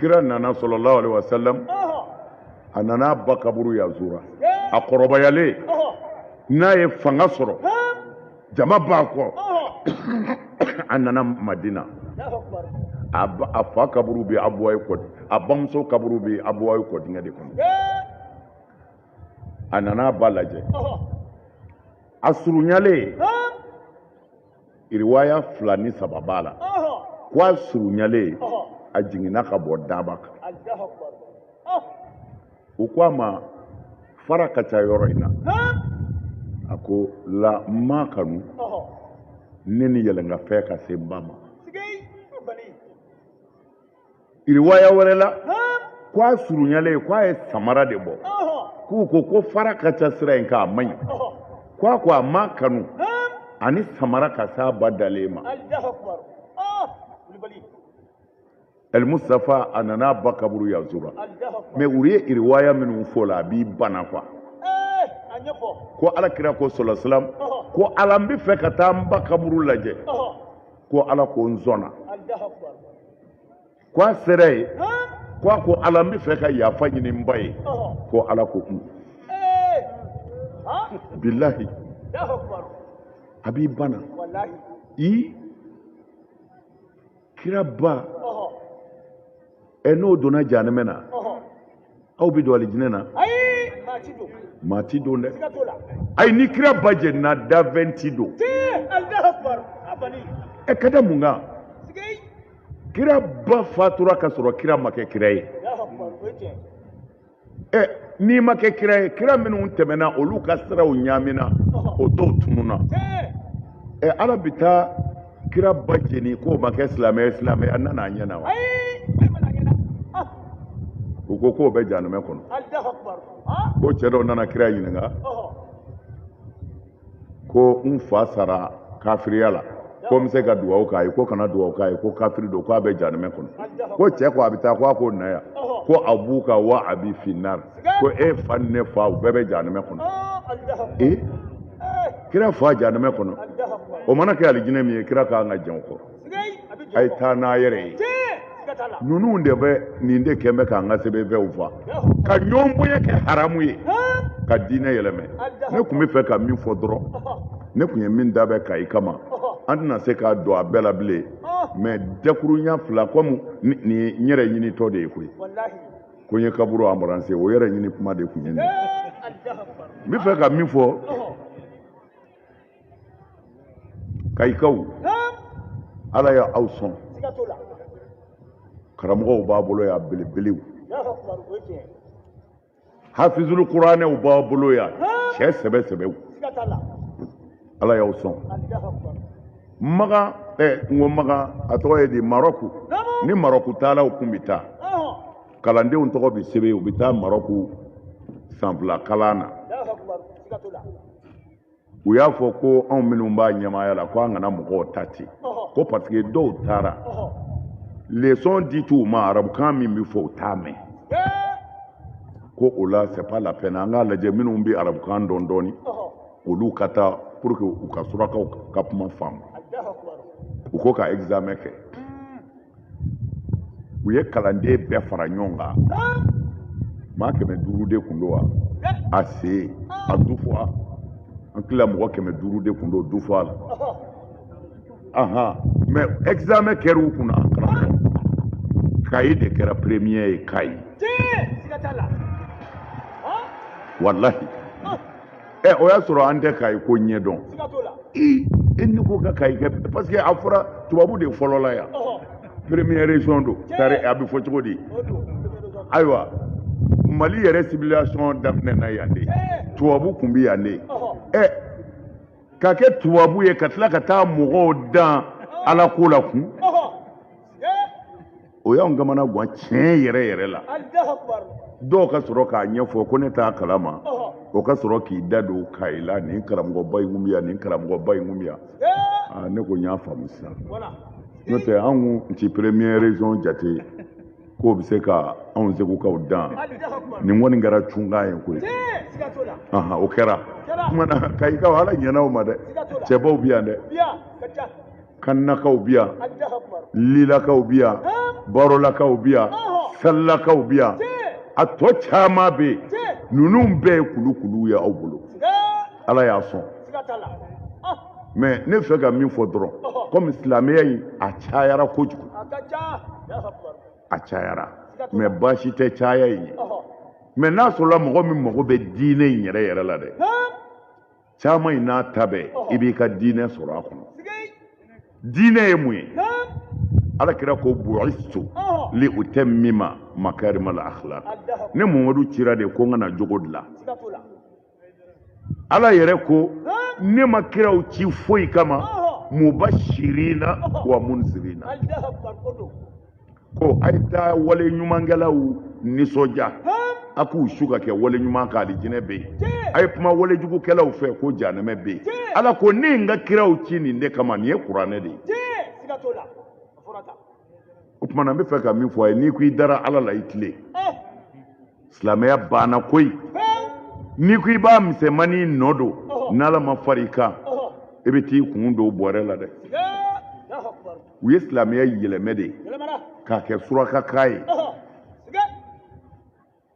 kira nana sallallahu alaihi wasallam a nana a ba kaburu yazura a kɔrɔbayalen n'a ye fanga sɔrɔ jama b'a kɔ a nana madina a fa kaburu bɛ abuwaye kɔdi a bamuso kaburu bɛ abuwaye kɔdingɛ de kɔnɔ a nana a ba lajɛ a surunyalen iriwaya fila ni saba b'a la ko a surunyalen a jiginna ka bɔ daba kan u ko a ma fara ka ca yɔrɔ in na a ko la n m'a kanu ne ni yɛlɛnkanfɛn ka se n ba ma riwaya wɛrɛ la ko a surunyalen ko a ye samara de bɔ k'u ko ko fara ka ca sira in kan a man ɲi ko a ko a ma kanu ani samara ka s'a ba dalen ma El Mustafa a nana ba kaburu yanzura mɛ u ye riwaya minnu fɔ la a b'i bana quoi ko ala kira ko sɔlɔsilam ko ala n bɛ fɛ ka taa n ba kaburu lajɛ ko ala ko n sɔnna k'a sera yen k'a ko ala n bɛ fɛ ka yafa ɲini n ba ye ko ala ko kun bilahi a b'i bana i kira ba ɛ n'o donna janɛmɛ na aw bɛ don alijinɛ na maa ti don dɛ ayi ni kira ba jenina danfɛn ti don ɛ ka da mun kan kira ba fatura ka sɔrɔ kira ma kɛ kira ye ɛ n'i ma kɛ kira ye kira minnu tɛmɛna olu ka siraw ɲaamina o dɔw tununa ɛ ala bɛ taa kira ba jeni k'o ma kɛ silamɛ ye silamɛya nana a ɲɛ na wa u ko k'o bɛ janumɛ kɔnɔ ko cɛ dɔ nana kira ɲininka ko n fa sara kafiriya la ko n bɛ se ka dugawu k'a ye ko kana dugawu k'a ye ko kafiri don k'a bɛ janumɛ kɔnɔ ko cɛ ko a bɛ taa ko a ko na yan ko abuka wa abi finnar ko e fa ni ne fa u bɛɛ bɛ jahanamɛ kɔnɔ ee kira fa jahanamɛ kɔnɔ o mana kɛ alijinɛ min ye kira ka kan ka jɛn o kɔrɔ a ye taa n'a yɛrɛ ye ninnu de bɛ nin de kɛlen bɛ k'an ka sɛbɛnfɛnw fa ka ɲɔgɔn bonya kɛ haramu ye ka diinɛ yɛlɛmɛ ne tun bɛ fɛ ka min fɔ dɔrɔn ne tun ye min dabɛn kayi kama an tɛna se k'a don a bɛɛ la bilen mɛ dakuruɲa fila kɔmi nin ye n yɛrɛ ɲinitɔ de ye koyi ko n ye kaburu embrasser o yɛrɛ ɲini kuma de tun ye nin n bɛ fɛ ka min fɔ kayikaw ala y'aw sɔn karamɔgɔw b'a bolo yan belebelew hafizulu kuranɛw b'a bolo yan cɛ sɛbɛ sɛbɛw ala y'aw sɔn makan ɛ n ko makan a tɔgɔ ye di marɔku ni marɔku taalaw kun bɛ taa kalandenw tɔgɔ bɛ sɛbɛn u bɛ taa marɔku san fila kalan na u y'a fɔ ko anw minnu b'a ɲɛmaaya la ko an kana mɔgɔw ta ten ko parce que dɔw taara leçon dit'u ma arabukan min bɛ fɔ u t'a mɛn ko o la c'est pas la peine an k'a lajɛ minnu bɛ arabukan dɔn dɔɔnin olu ka taa pour que u ka surakaw ka kuma faamu u ko ka examen kɛ u ye kalanden bɛɛ fara ɲɔgɔn kan maa kɛmɛ duuru de kun don wa a se a du fɔ a an tila mɔgɔ kɛmɛ duuru de kun don du fɔ a la ahan mais examen kɛra u kunna karamɔgɔ kayi de kɛra premier ye kayi walahi ɛ o y'a sɔrɔ an tɛ kayi ko ɲɛdɔn i e ni ko ka kayi kɛ parce que a fɔra tubabu de fɔlɔla yan première région don tari a bɛ fɔ cogo di ayiwa mali yɛrɛ civilisation daminɛna yan de tubabu kun bɛ yan de e ka kɛ tubabu ye ka tila ka taa mɔgɔw dan ala ko la kun o y'anw kamanagan tiɲɛ yɛrɛ yɛrɛ la dɔw ka sɔrɔ k'a ɲɛfɔ ko ne t'a kalama o ka sɔrɔ k'i da don kayi la nin karamɔgɔba in kun bɛ yan nin karamɔgɔba in kun bɛ yan ah, ne ko n y'a faamu sisan n'o tɛ anw kun ti première région jate k'o bɛ se ka anw segukaw dan nin kɔni kɛra cunkan ye koyi o kɛra kumana kayikaw ala ɲɛna aw ma dɛ cɛbaw bɛ yan dɛ kannakaw bi yan lilakaw bi yan barolakaw bi yan salilakaw bi yan a tɔ caman bɛ yen ninnu bɛɛ ye kulukuluw ye aw bolo ala y'a sɔn mais ne fɛ ka min fɔ dɔrɔn kɔmi silamɛya in a cayara kojugu a cayara mais baasi tɛ caya in ye mais n'a sɔrɔla mɔgɔ min mago bɛ diinɛ in yɛrɛ yɛrɛ la dɛ caman in n'a ta bɛɛ i b'i ka diinɛ sɔrɔ a kɔnɔ diinɛ ye mun ye ala kira ko bu'istu li utammima makarimal akhlaq ne mamadu cira de ko n ka na jogo dilan ala yɛrɛ ko ne ma kiraw ci foyi kama mubashirina wa munzirina ko a ye taa wale ɲumankɛlaw nisɔndiya a k'u su ka kɛ wale ɲuman kan alijinɛ bɛ yen a ye kuma wale jugukɛlaw fɛ ko janɛmɛ bɛ yen ala ko ne ye n ka kiraw ci nin de kama nin ye kuranɛ de ye o tuma na n bɛ fɛ ka min fɔ a ye n'i ko i dara ala la i tilen eh. silamɛya banna koyi n'i ko i b'a misɛnmanin nɔ don n'ala ma fara i kan i bɛ t'i kun don bɔrɛ la dɛ u ye silamɛya yɛlɛmɛ de k'a kɛ surakakan ye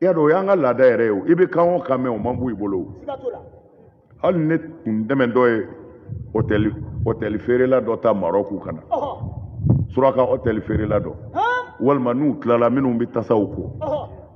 y'a dɔn o y'an ka laada yɛrɛ ye o i bɛ kan o kan mɛn o man bon i bolo o hali ne tun dɛmɛ dɔ ye hôtel feerela dɔ ta Maroc ka na suraka hôtel feerela dɔ walima n'u tilala minnu bɛ tasaw ko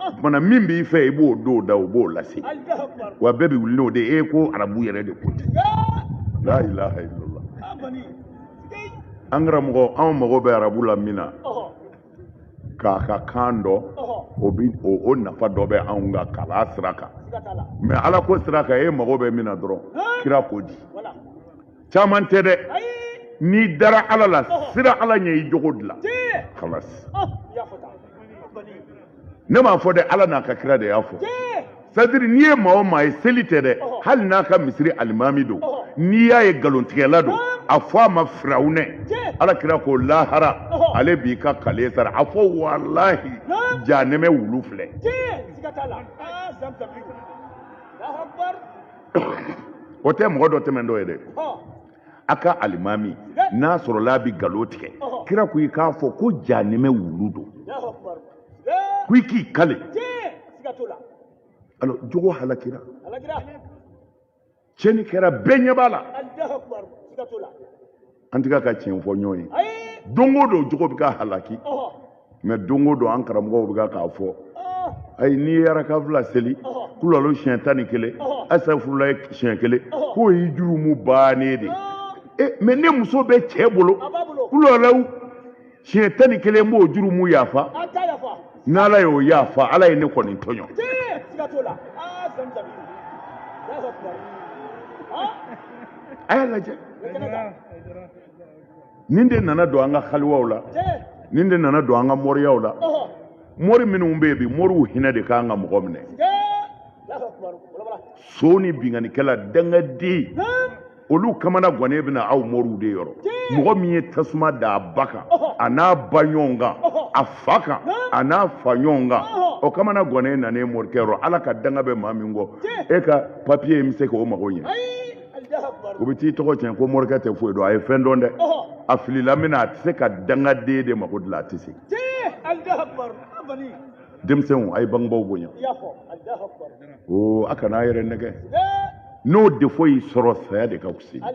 o kumana min b'i fɛ i b'o don da o b'o lase wa bɛɛ bɛ wuli n'o de ye ko arabu yɛrɛ de ko ten la ilaha illallah an karamɔgɔ anw mago bɛ arabu la min na k'a ka kan dɔn o bi o nafa dɔ bɛ anw ka kalan sira kan mais ala ko sira kan e mago bɛ min na dɔrɔn kira ko di caman tɛ dɛ n'i dara ala la siran ala ɲɛ i jogo dilan kalas ne m'a fɔ dɛ ala n'a ka kira de y'a fɔ c'est-à-dire n'i ye maa o maa ye seli tɛ dɛ hali n'a ka misiri alimami don n'i y'a ye nkalontigɛla don a fɔ a ma firawunɛ ala kira ko lahara ale b'i ka kale sara a fɔ walahi janɛmɛ wulu filɛ o tɛ mɔgɔ dɔ tɛmɛn dɔ ye dɛ a ka alimami n'a sɔrɔla a bɛ nkalon tigɛ kira ko i k'a fɔ ko janimɛ wulu don ko i k'i kale alors jogo halakira tiɲɛni kɛra bɛɛ ɲɛ b'a la an tɛ ka tiɲɛ fɔ ɲɔgɔn ye don o don jogo bɛ ka halaki mais don o don an karamɔgɔw bɛ k'a fɔ ayi n'i ye araka fila seli kulalo siɲɛ tan ni kelen asafurulayi siɲɛ kelen k'o y'i jurumu bannen de ye mais ne muso bɛ cɛ bolo kulalaw siɲɛ tan ni kelen b'o jurumu yafa n'ala y'o yafa ala ye ne kɔni tɔɲɔ a y'a lajɛ nin de nana don an ka haliwaw la nin de nana don an ka moriyaw la mori minnu bɛ yen bi moriw hinɛ de ka kan ka mɔgɔ minɛ son ni binkannikɛla dangaden olu kamana gannen bɛ na aw moriw de yɔrɔ mɔgɔ min ye tasuma da a ba kan a n'a ba ɲɔgɔn kan a fa kan a n'a fa ɲɔgɔn kan o kamana gannen nanen morikɛ yɔrɔ ala ka danga bɛ maa min kɔ e ka papiye in bɛ se k'o mago ɲɛ o bɛ t'i tɔgɔ tiɲɛ ko morikɛ tɛ foyi dɔn a ye fɛn dɔn dɛ a filila min na a tɛ se ka dangaden de mago dilan a tɛ se denmisɛnw a ye bangebaaw bonya o a kana a yɛrɛ nɛgɛn n'o defo y'i sɔrɔ saya de ka fisa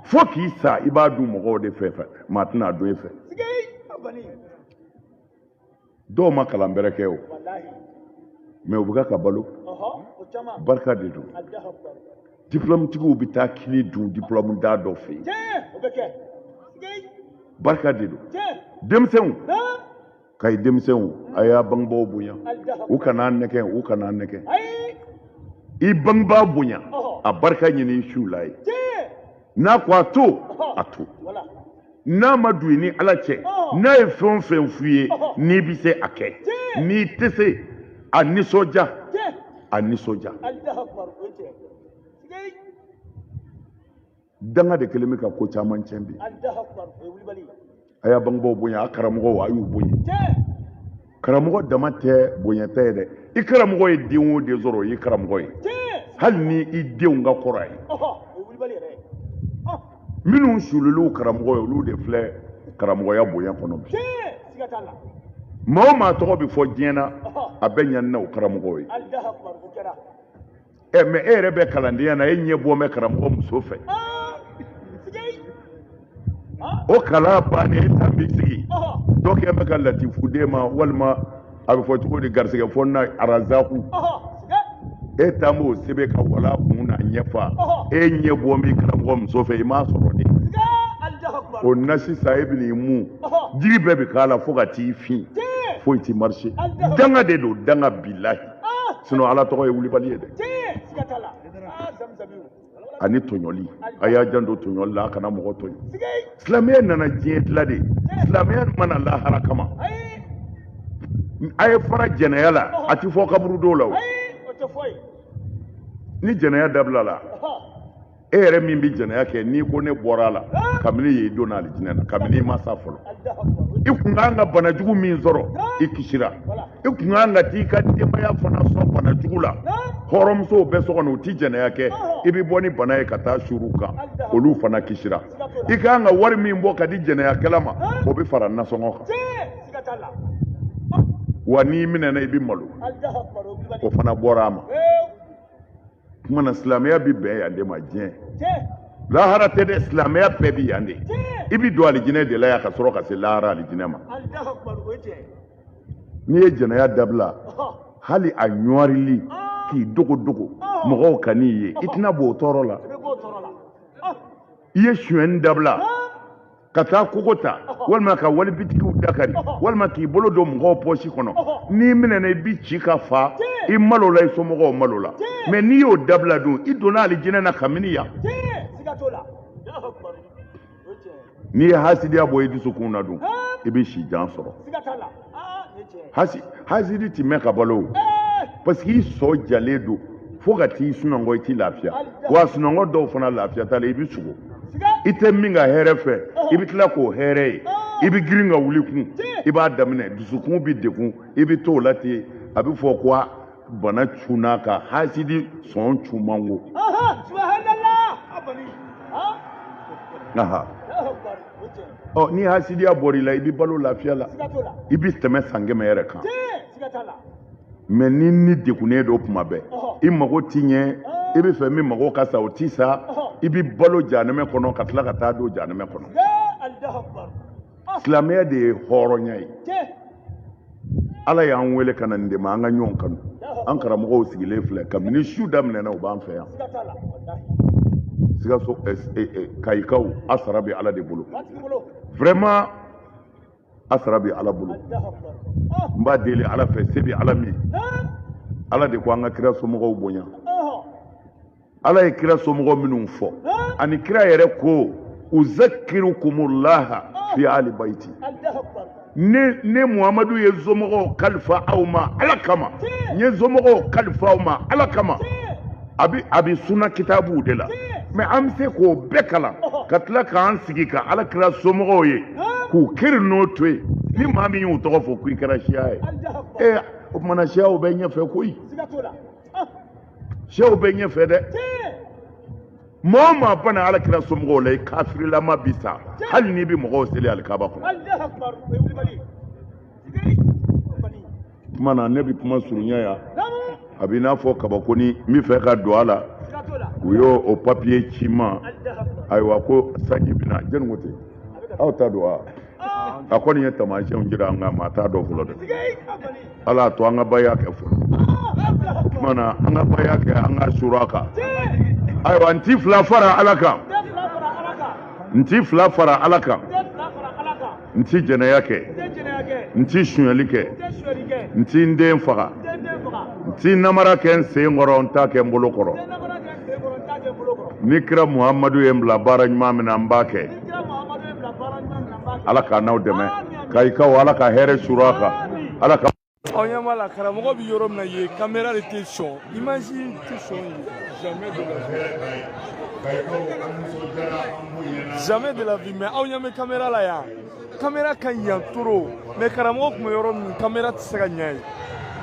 fo k'i sa i b'a dun mɔgɔw de fɛ maa tɛna a dun e fɛ dɔw ma kalan bɛrɛ kɛ o mais u bɛ ka balo barika de don diplɔmutigiw bɛ taa kini dun diplɔmuntan dɔ fɛ yen barika de don denmisɛnw ka ye denmisɛnw a y'a bangebaaw bonya u kana nɛgɛ u kana nɛgɛ i bangebaa bonya a barika ɲini i siw la ye n'a ko a to a to n'a ma don i ni ala cɛ n'a ye fɛn o fɛn f'i ye n'i bɛ se a kɛ n'i tɛ se a nisɔndiya a nisɔndiya danga de kelen bɛ ka ko caman tiɲɛ bi a y'a bangebaaw bonya a karamɔgɔw a y'u bonya karamɔgɔ dama tɛ bonyata ye dɛ i karamɔgɔ ye den o den sɔrɔ o y'i karamɔgɔ ye hali ni i denw ka kɔrɔ a ye minnu suulil'u karamɔgɔ ye olu de filɛ karamɔgɔya bonya kɔnɔ bi maa o maa tɔgɔ bɛ fɔ diɲɛ na a bɛɛ ɲanina o karamɔgɔw ye ɛ mɛ e yɛrɛ bɛ kalandenya na e ɲɛ bɔlen bɛ karamɔgɔ muso fɛ o kalan bannen e tan b'i sigi dɔ kɛ bɛ ka latifu den ma walima a bɛ fɔ cogo di garisɛgɛ fɔ na arazaku e tan b'o sɛbɛn ka walaa kun na ɲɛfa e ɲɛ bɔlen bɛ karamɔgɔ muso fɛ i m'a sɔrɔ de o na sisan e bɛn'i mun jiri bɛɛ bɛ k'a la fo ka t'i fin foyi ti marise danga de don danga bilahi sinɔn ala tɔgɔ ye wulibali ye dɛ ani tɔɲɔli a y'a janto tɔɲɔli la a kana mɔgɔ tɔɲɔ silamɛya nana diɲɛ dilan de silamɛya ma na lahara kama a ye fara jɛnɛya la a ti fɔ kaburu dɔw la o ni jɛnɛya dabila la e yɛrɛ min bɛ jɛnɛya kɛ n'i ko ne bɔra a la kabini yen i donna alijinɛ na kabini i ma sa fɔlɔ i kun kan ka bana jugu min sɔrɔ i kisira i kun kan ka t'i ka denbaya fana sɔn bana jugu la hɔrɔnmusow bɛ so kɔnɔ u ti jɛnɛya kɛ i bɛ bɔ ni bana ye ka taa suur'u kan olu fana kisira i ka kan ka wari min bɔ ka di jɛnɛyakɛla ma o bɛ fara nasɔngɔ kan wa n'i minɛna i bɛ malo o fana bɔra a ma kuma na silamɛya bi bɛn yan de ma diɲɛ lahara tɛ dɛ silamɛya bɛɛ bi yan de i bi don alijinɛ de la yan ka sɔrɔ ka se lahara alijinɛ ma n'i ye jɛnɛya dabila hali a ɲɔrili k'i dogo dogo mɔgɔw kan'i ye i tɛna b'o tɔɔrɔ la i ye suɲɛni dabila ka taa kogo ta walima ka wali bitikiw da kari walima k'i bolo don mɔgɔw pɔsi kɔnɔ n'i minɛna i bi ci ka fa i malola i somɔgɔw malola mɛ n'i y'o dabila dun i donna alijinɛ na kabini yan n'i ye hasidiya bɔ i dusukun na dun i bɛ si jan sɔrɔ hasidi tɛ mɛn ka balo o parce que i sɔn jalen don fo ka t'i sunɔgɔ i t'i lafiya wa sunɔgɔ dɔw fana lafiya t'a la i bɛ sugo i tɛ min ka hɛrɛ fɛ i bɛ tila k'o hɛrɛ ye i bɛ girin ka wuli kun i b'a daminɛ dusukun bɛ degun i bɛ t'o la ten a bɛ fɔ ko bana cunn'a kan hasidi sɔn cunmango ɔ ni hasidiya bɔr'i la i bɛ balo lafiya la i bɛ tɛmɛ san kɛmɛ yɛrɛ kan mɛ ni ni degunnen don tuma bɛɛ i mago ti ɲɛ i b'a fɛ min mago ka sa o ti sa i bɛ balo janɛmɛ kɔnɔ ka tila ka taa don janɛmɛ kɔnɔ silamɛya de ye hɔrɔnya ye ala y'an wele ka na nin de ma an ka ɲɔgɔn kanu an karamɔgɔw sigilen filɛ kabini su daminɛna u b'an fɛ yan sikaso eh, eh, eh, kayikaw a sara bɛ ala de bolo vraiment a sara bɛ ala bolo n b'a deli ala fɛ se bɛ ala min ala de ko an ka kira somɔgɔw bonya ala ye kira somɔgɔ minnu fɔ ani kira yɛrɛ ko uzakirukumullaha fi ali baiti ne ne muhamadu ye n somɔgɔw kalifa aw ma ala kama n ye n somɔgɔw kalifa aw ma ala kama a bi a bi suna kitabuw de la mɛ an bɛ se k'o bɛɛ kalan ka tila k'an sigi ka ala kira somɔgɔw ye k'u kiri n'o to yen ni maa min y'u tɔgɔ fɔ k'i kɛra siya ye ee o tumana siyaw bɛ ɲɛfɛ koyi siyaw bɛ ɲɛfɛ dɛ mɔɔ maa ban ala kira somɔgɔw la i kafirilama bi sa hali n'i bɛ mɔgɔw seli alikaba kɔnɔ tuma na ne bɛ kuma surunya ya a bɛ i n'a fɔ kaba kɔni bi fɛ ka don a la u y'o o papiye ci n ma ayiwa ko sanji bɛ na jɔni ko ten aw t'a dɔn wa a kɔni ye tamasiyɛnw jira nka maa t'a dɔn fɔlɔ dɛ ala to an ka baya kɛ fɔlɔ tuma na an ka baya kɛ an ka sura kan ayiwa n ti fila fara ala kan n ti fila fara ala kan n ti jɛnɛya kɛ n ti sunyali kɛ n ti n den faga n ti namara kɛ n sen kɔrɔ n t'a kɛ n bolo kɔrɔ ni kira muhamadu ye n bila baara ɲuman min na n b'a kɛ ala k'an n'aw dɛmɛ kayikaw ala ka hɛrɛ suuru aw kan ala ka aw ɲɛ b'a la karamɔgɔ bɛ yɔrɔ min na yen kamera de tɛ sɔn image tɛ sɔn yen jamais de la vie jamais de la vie mais aw ɲɛ bɛ kamera la yan kamera ka ɲi yan trop mais karamɔgɔ tun bɛ yɔrɔ min kamera tɛ se ka ɲɛ yen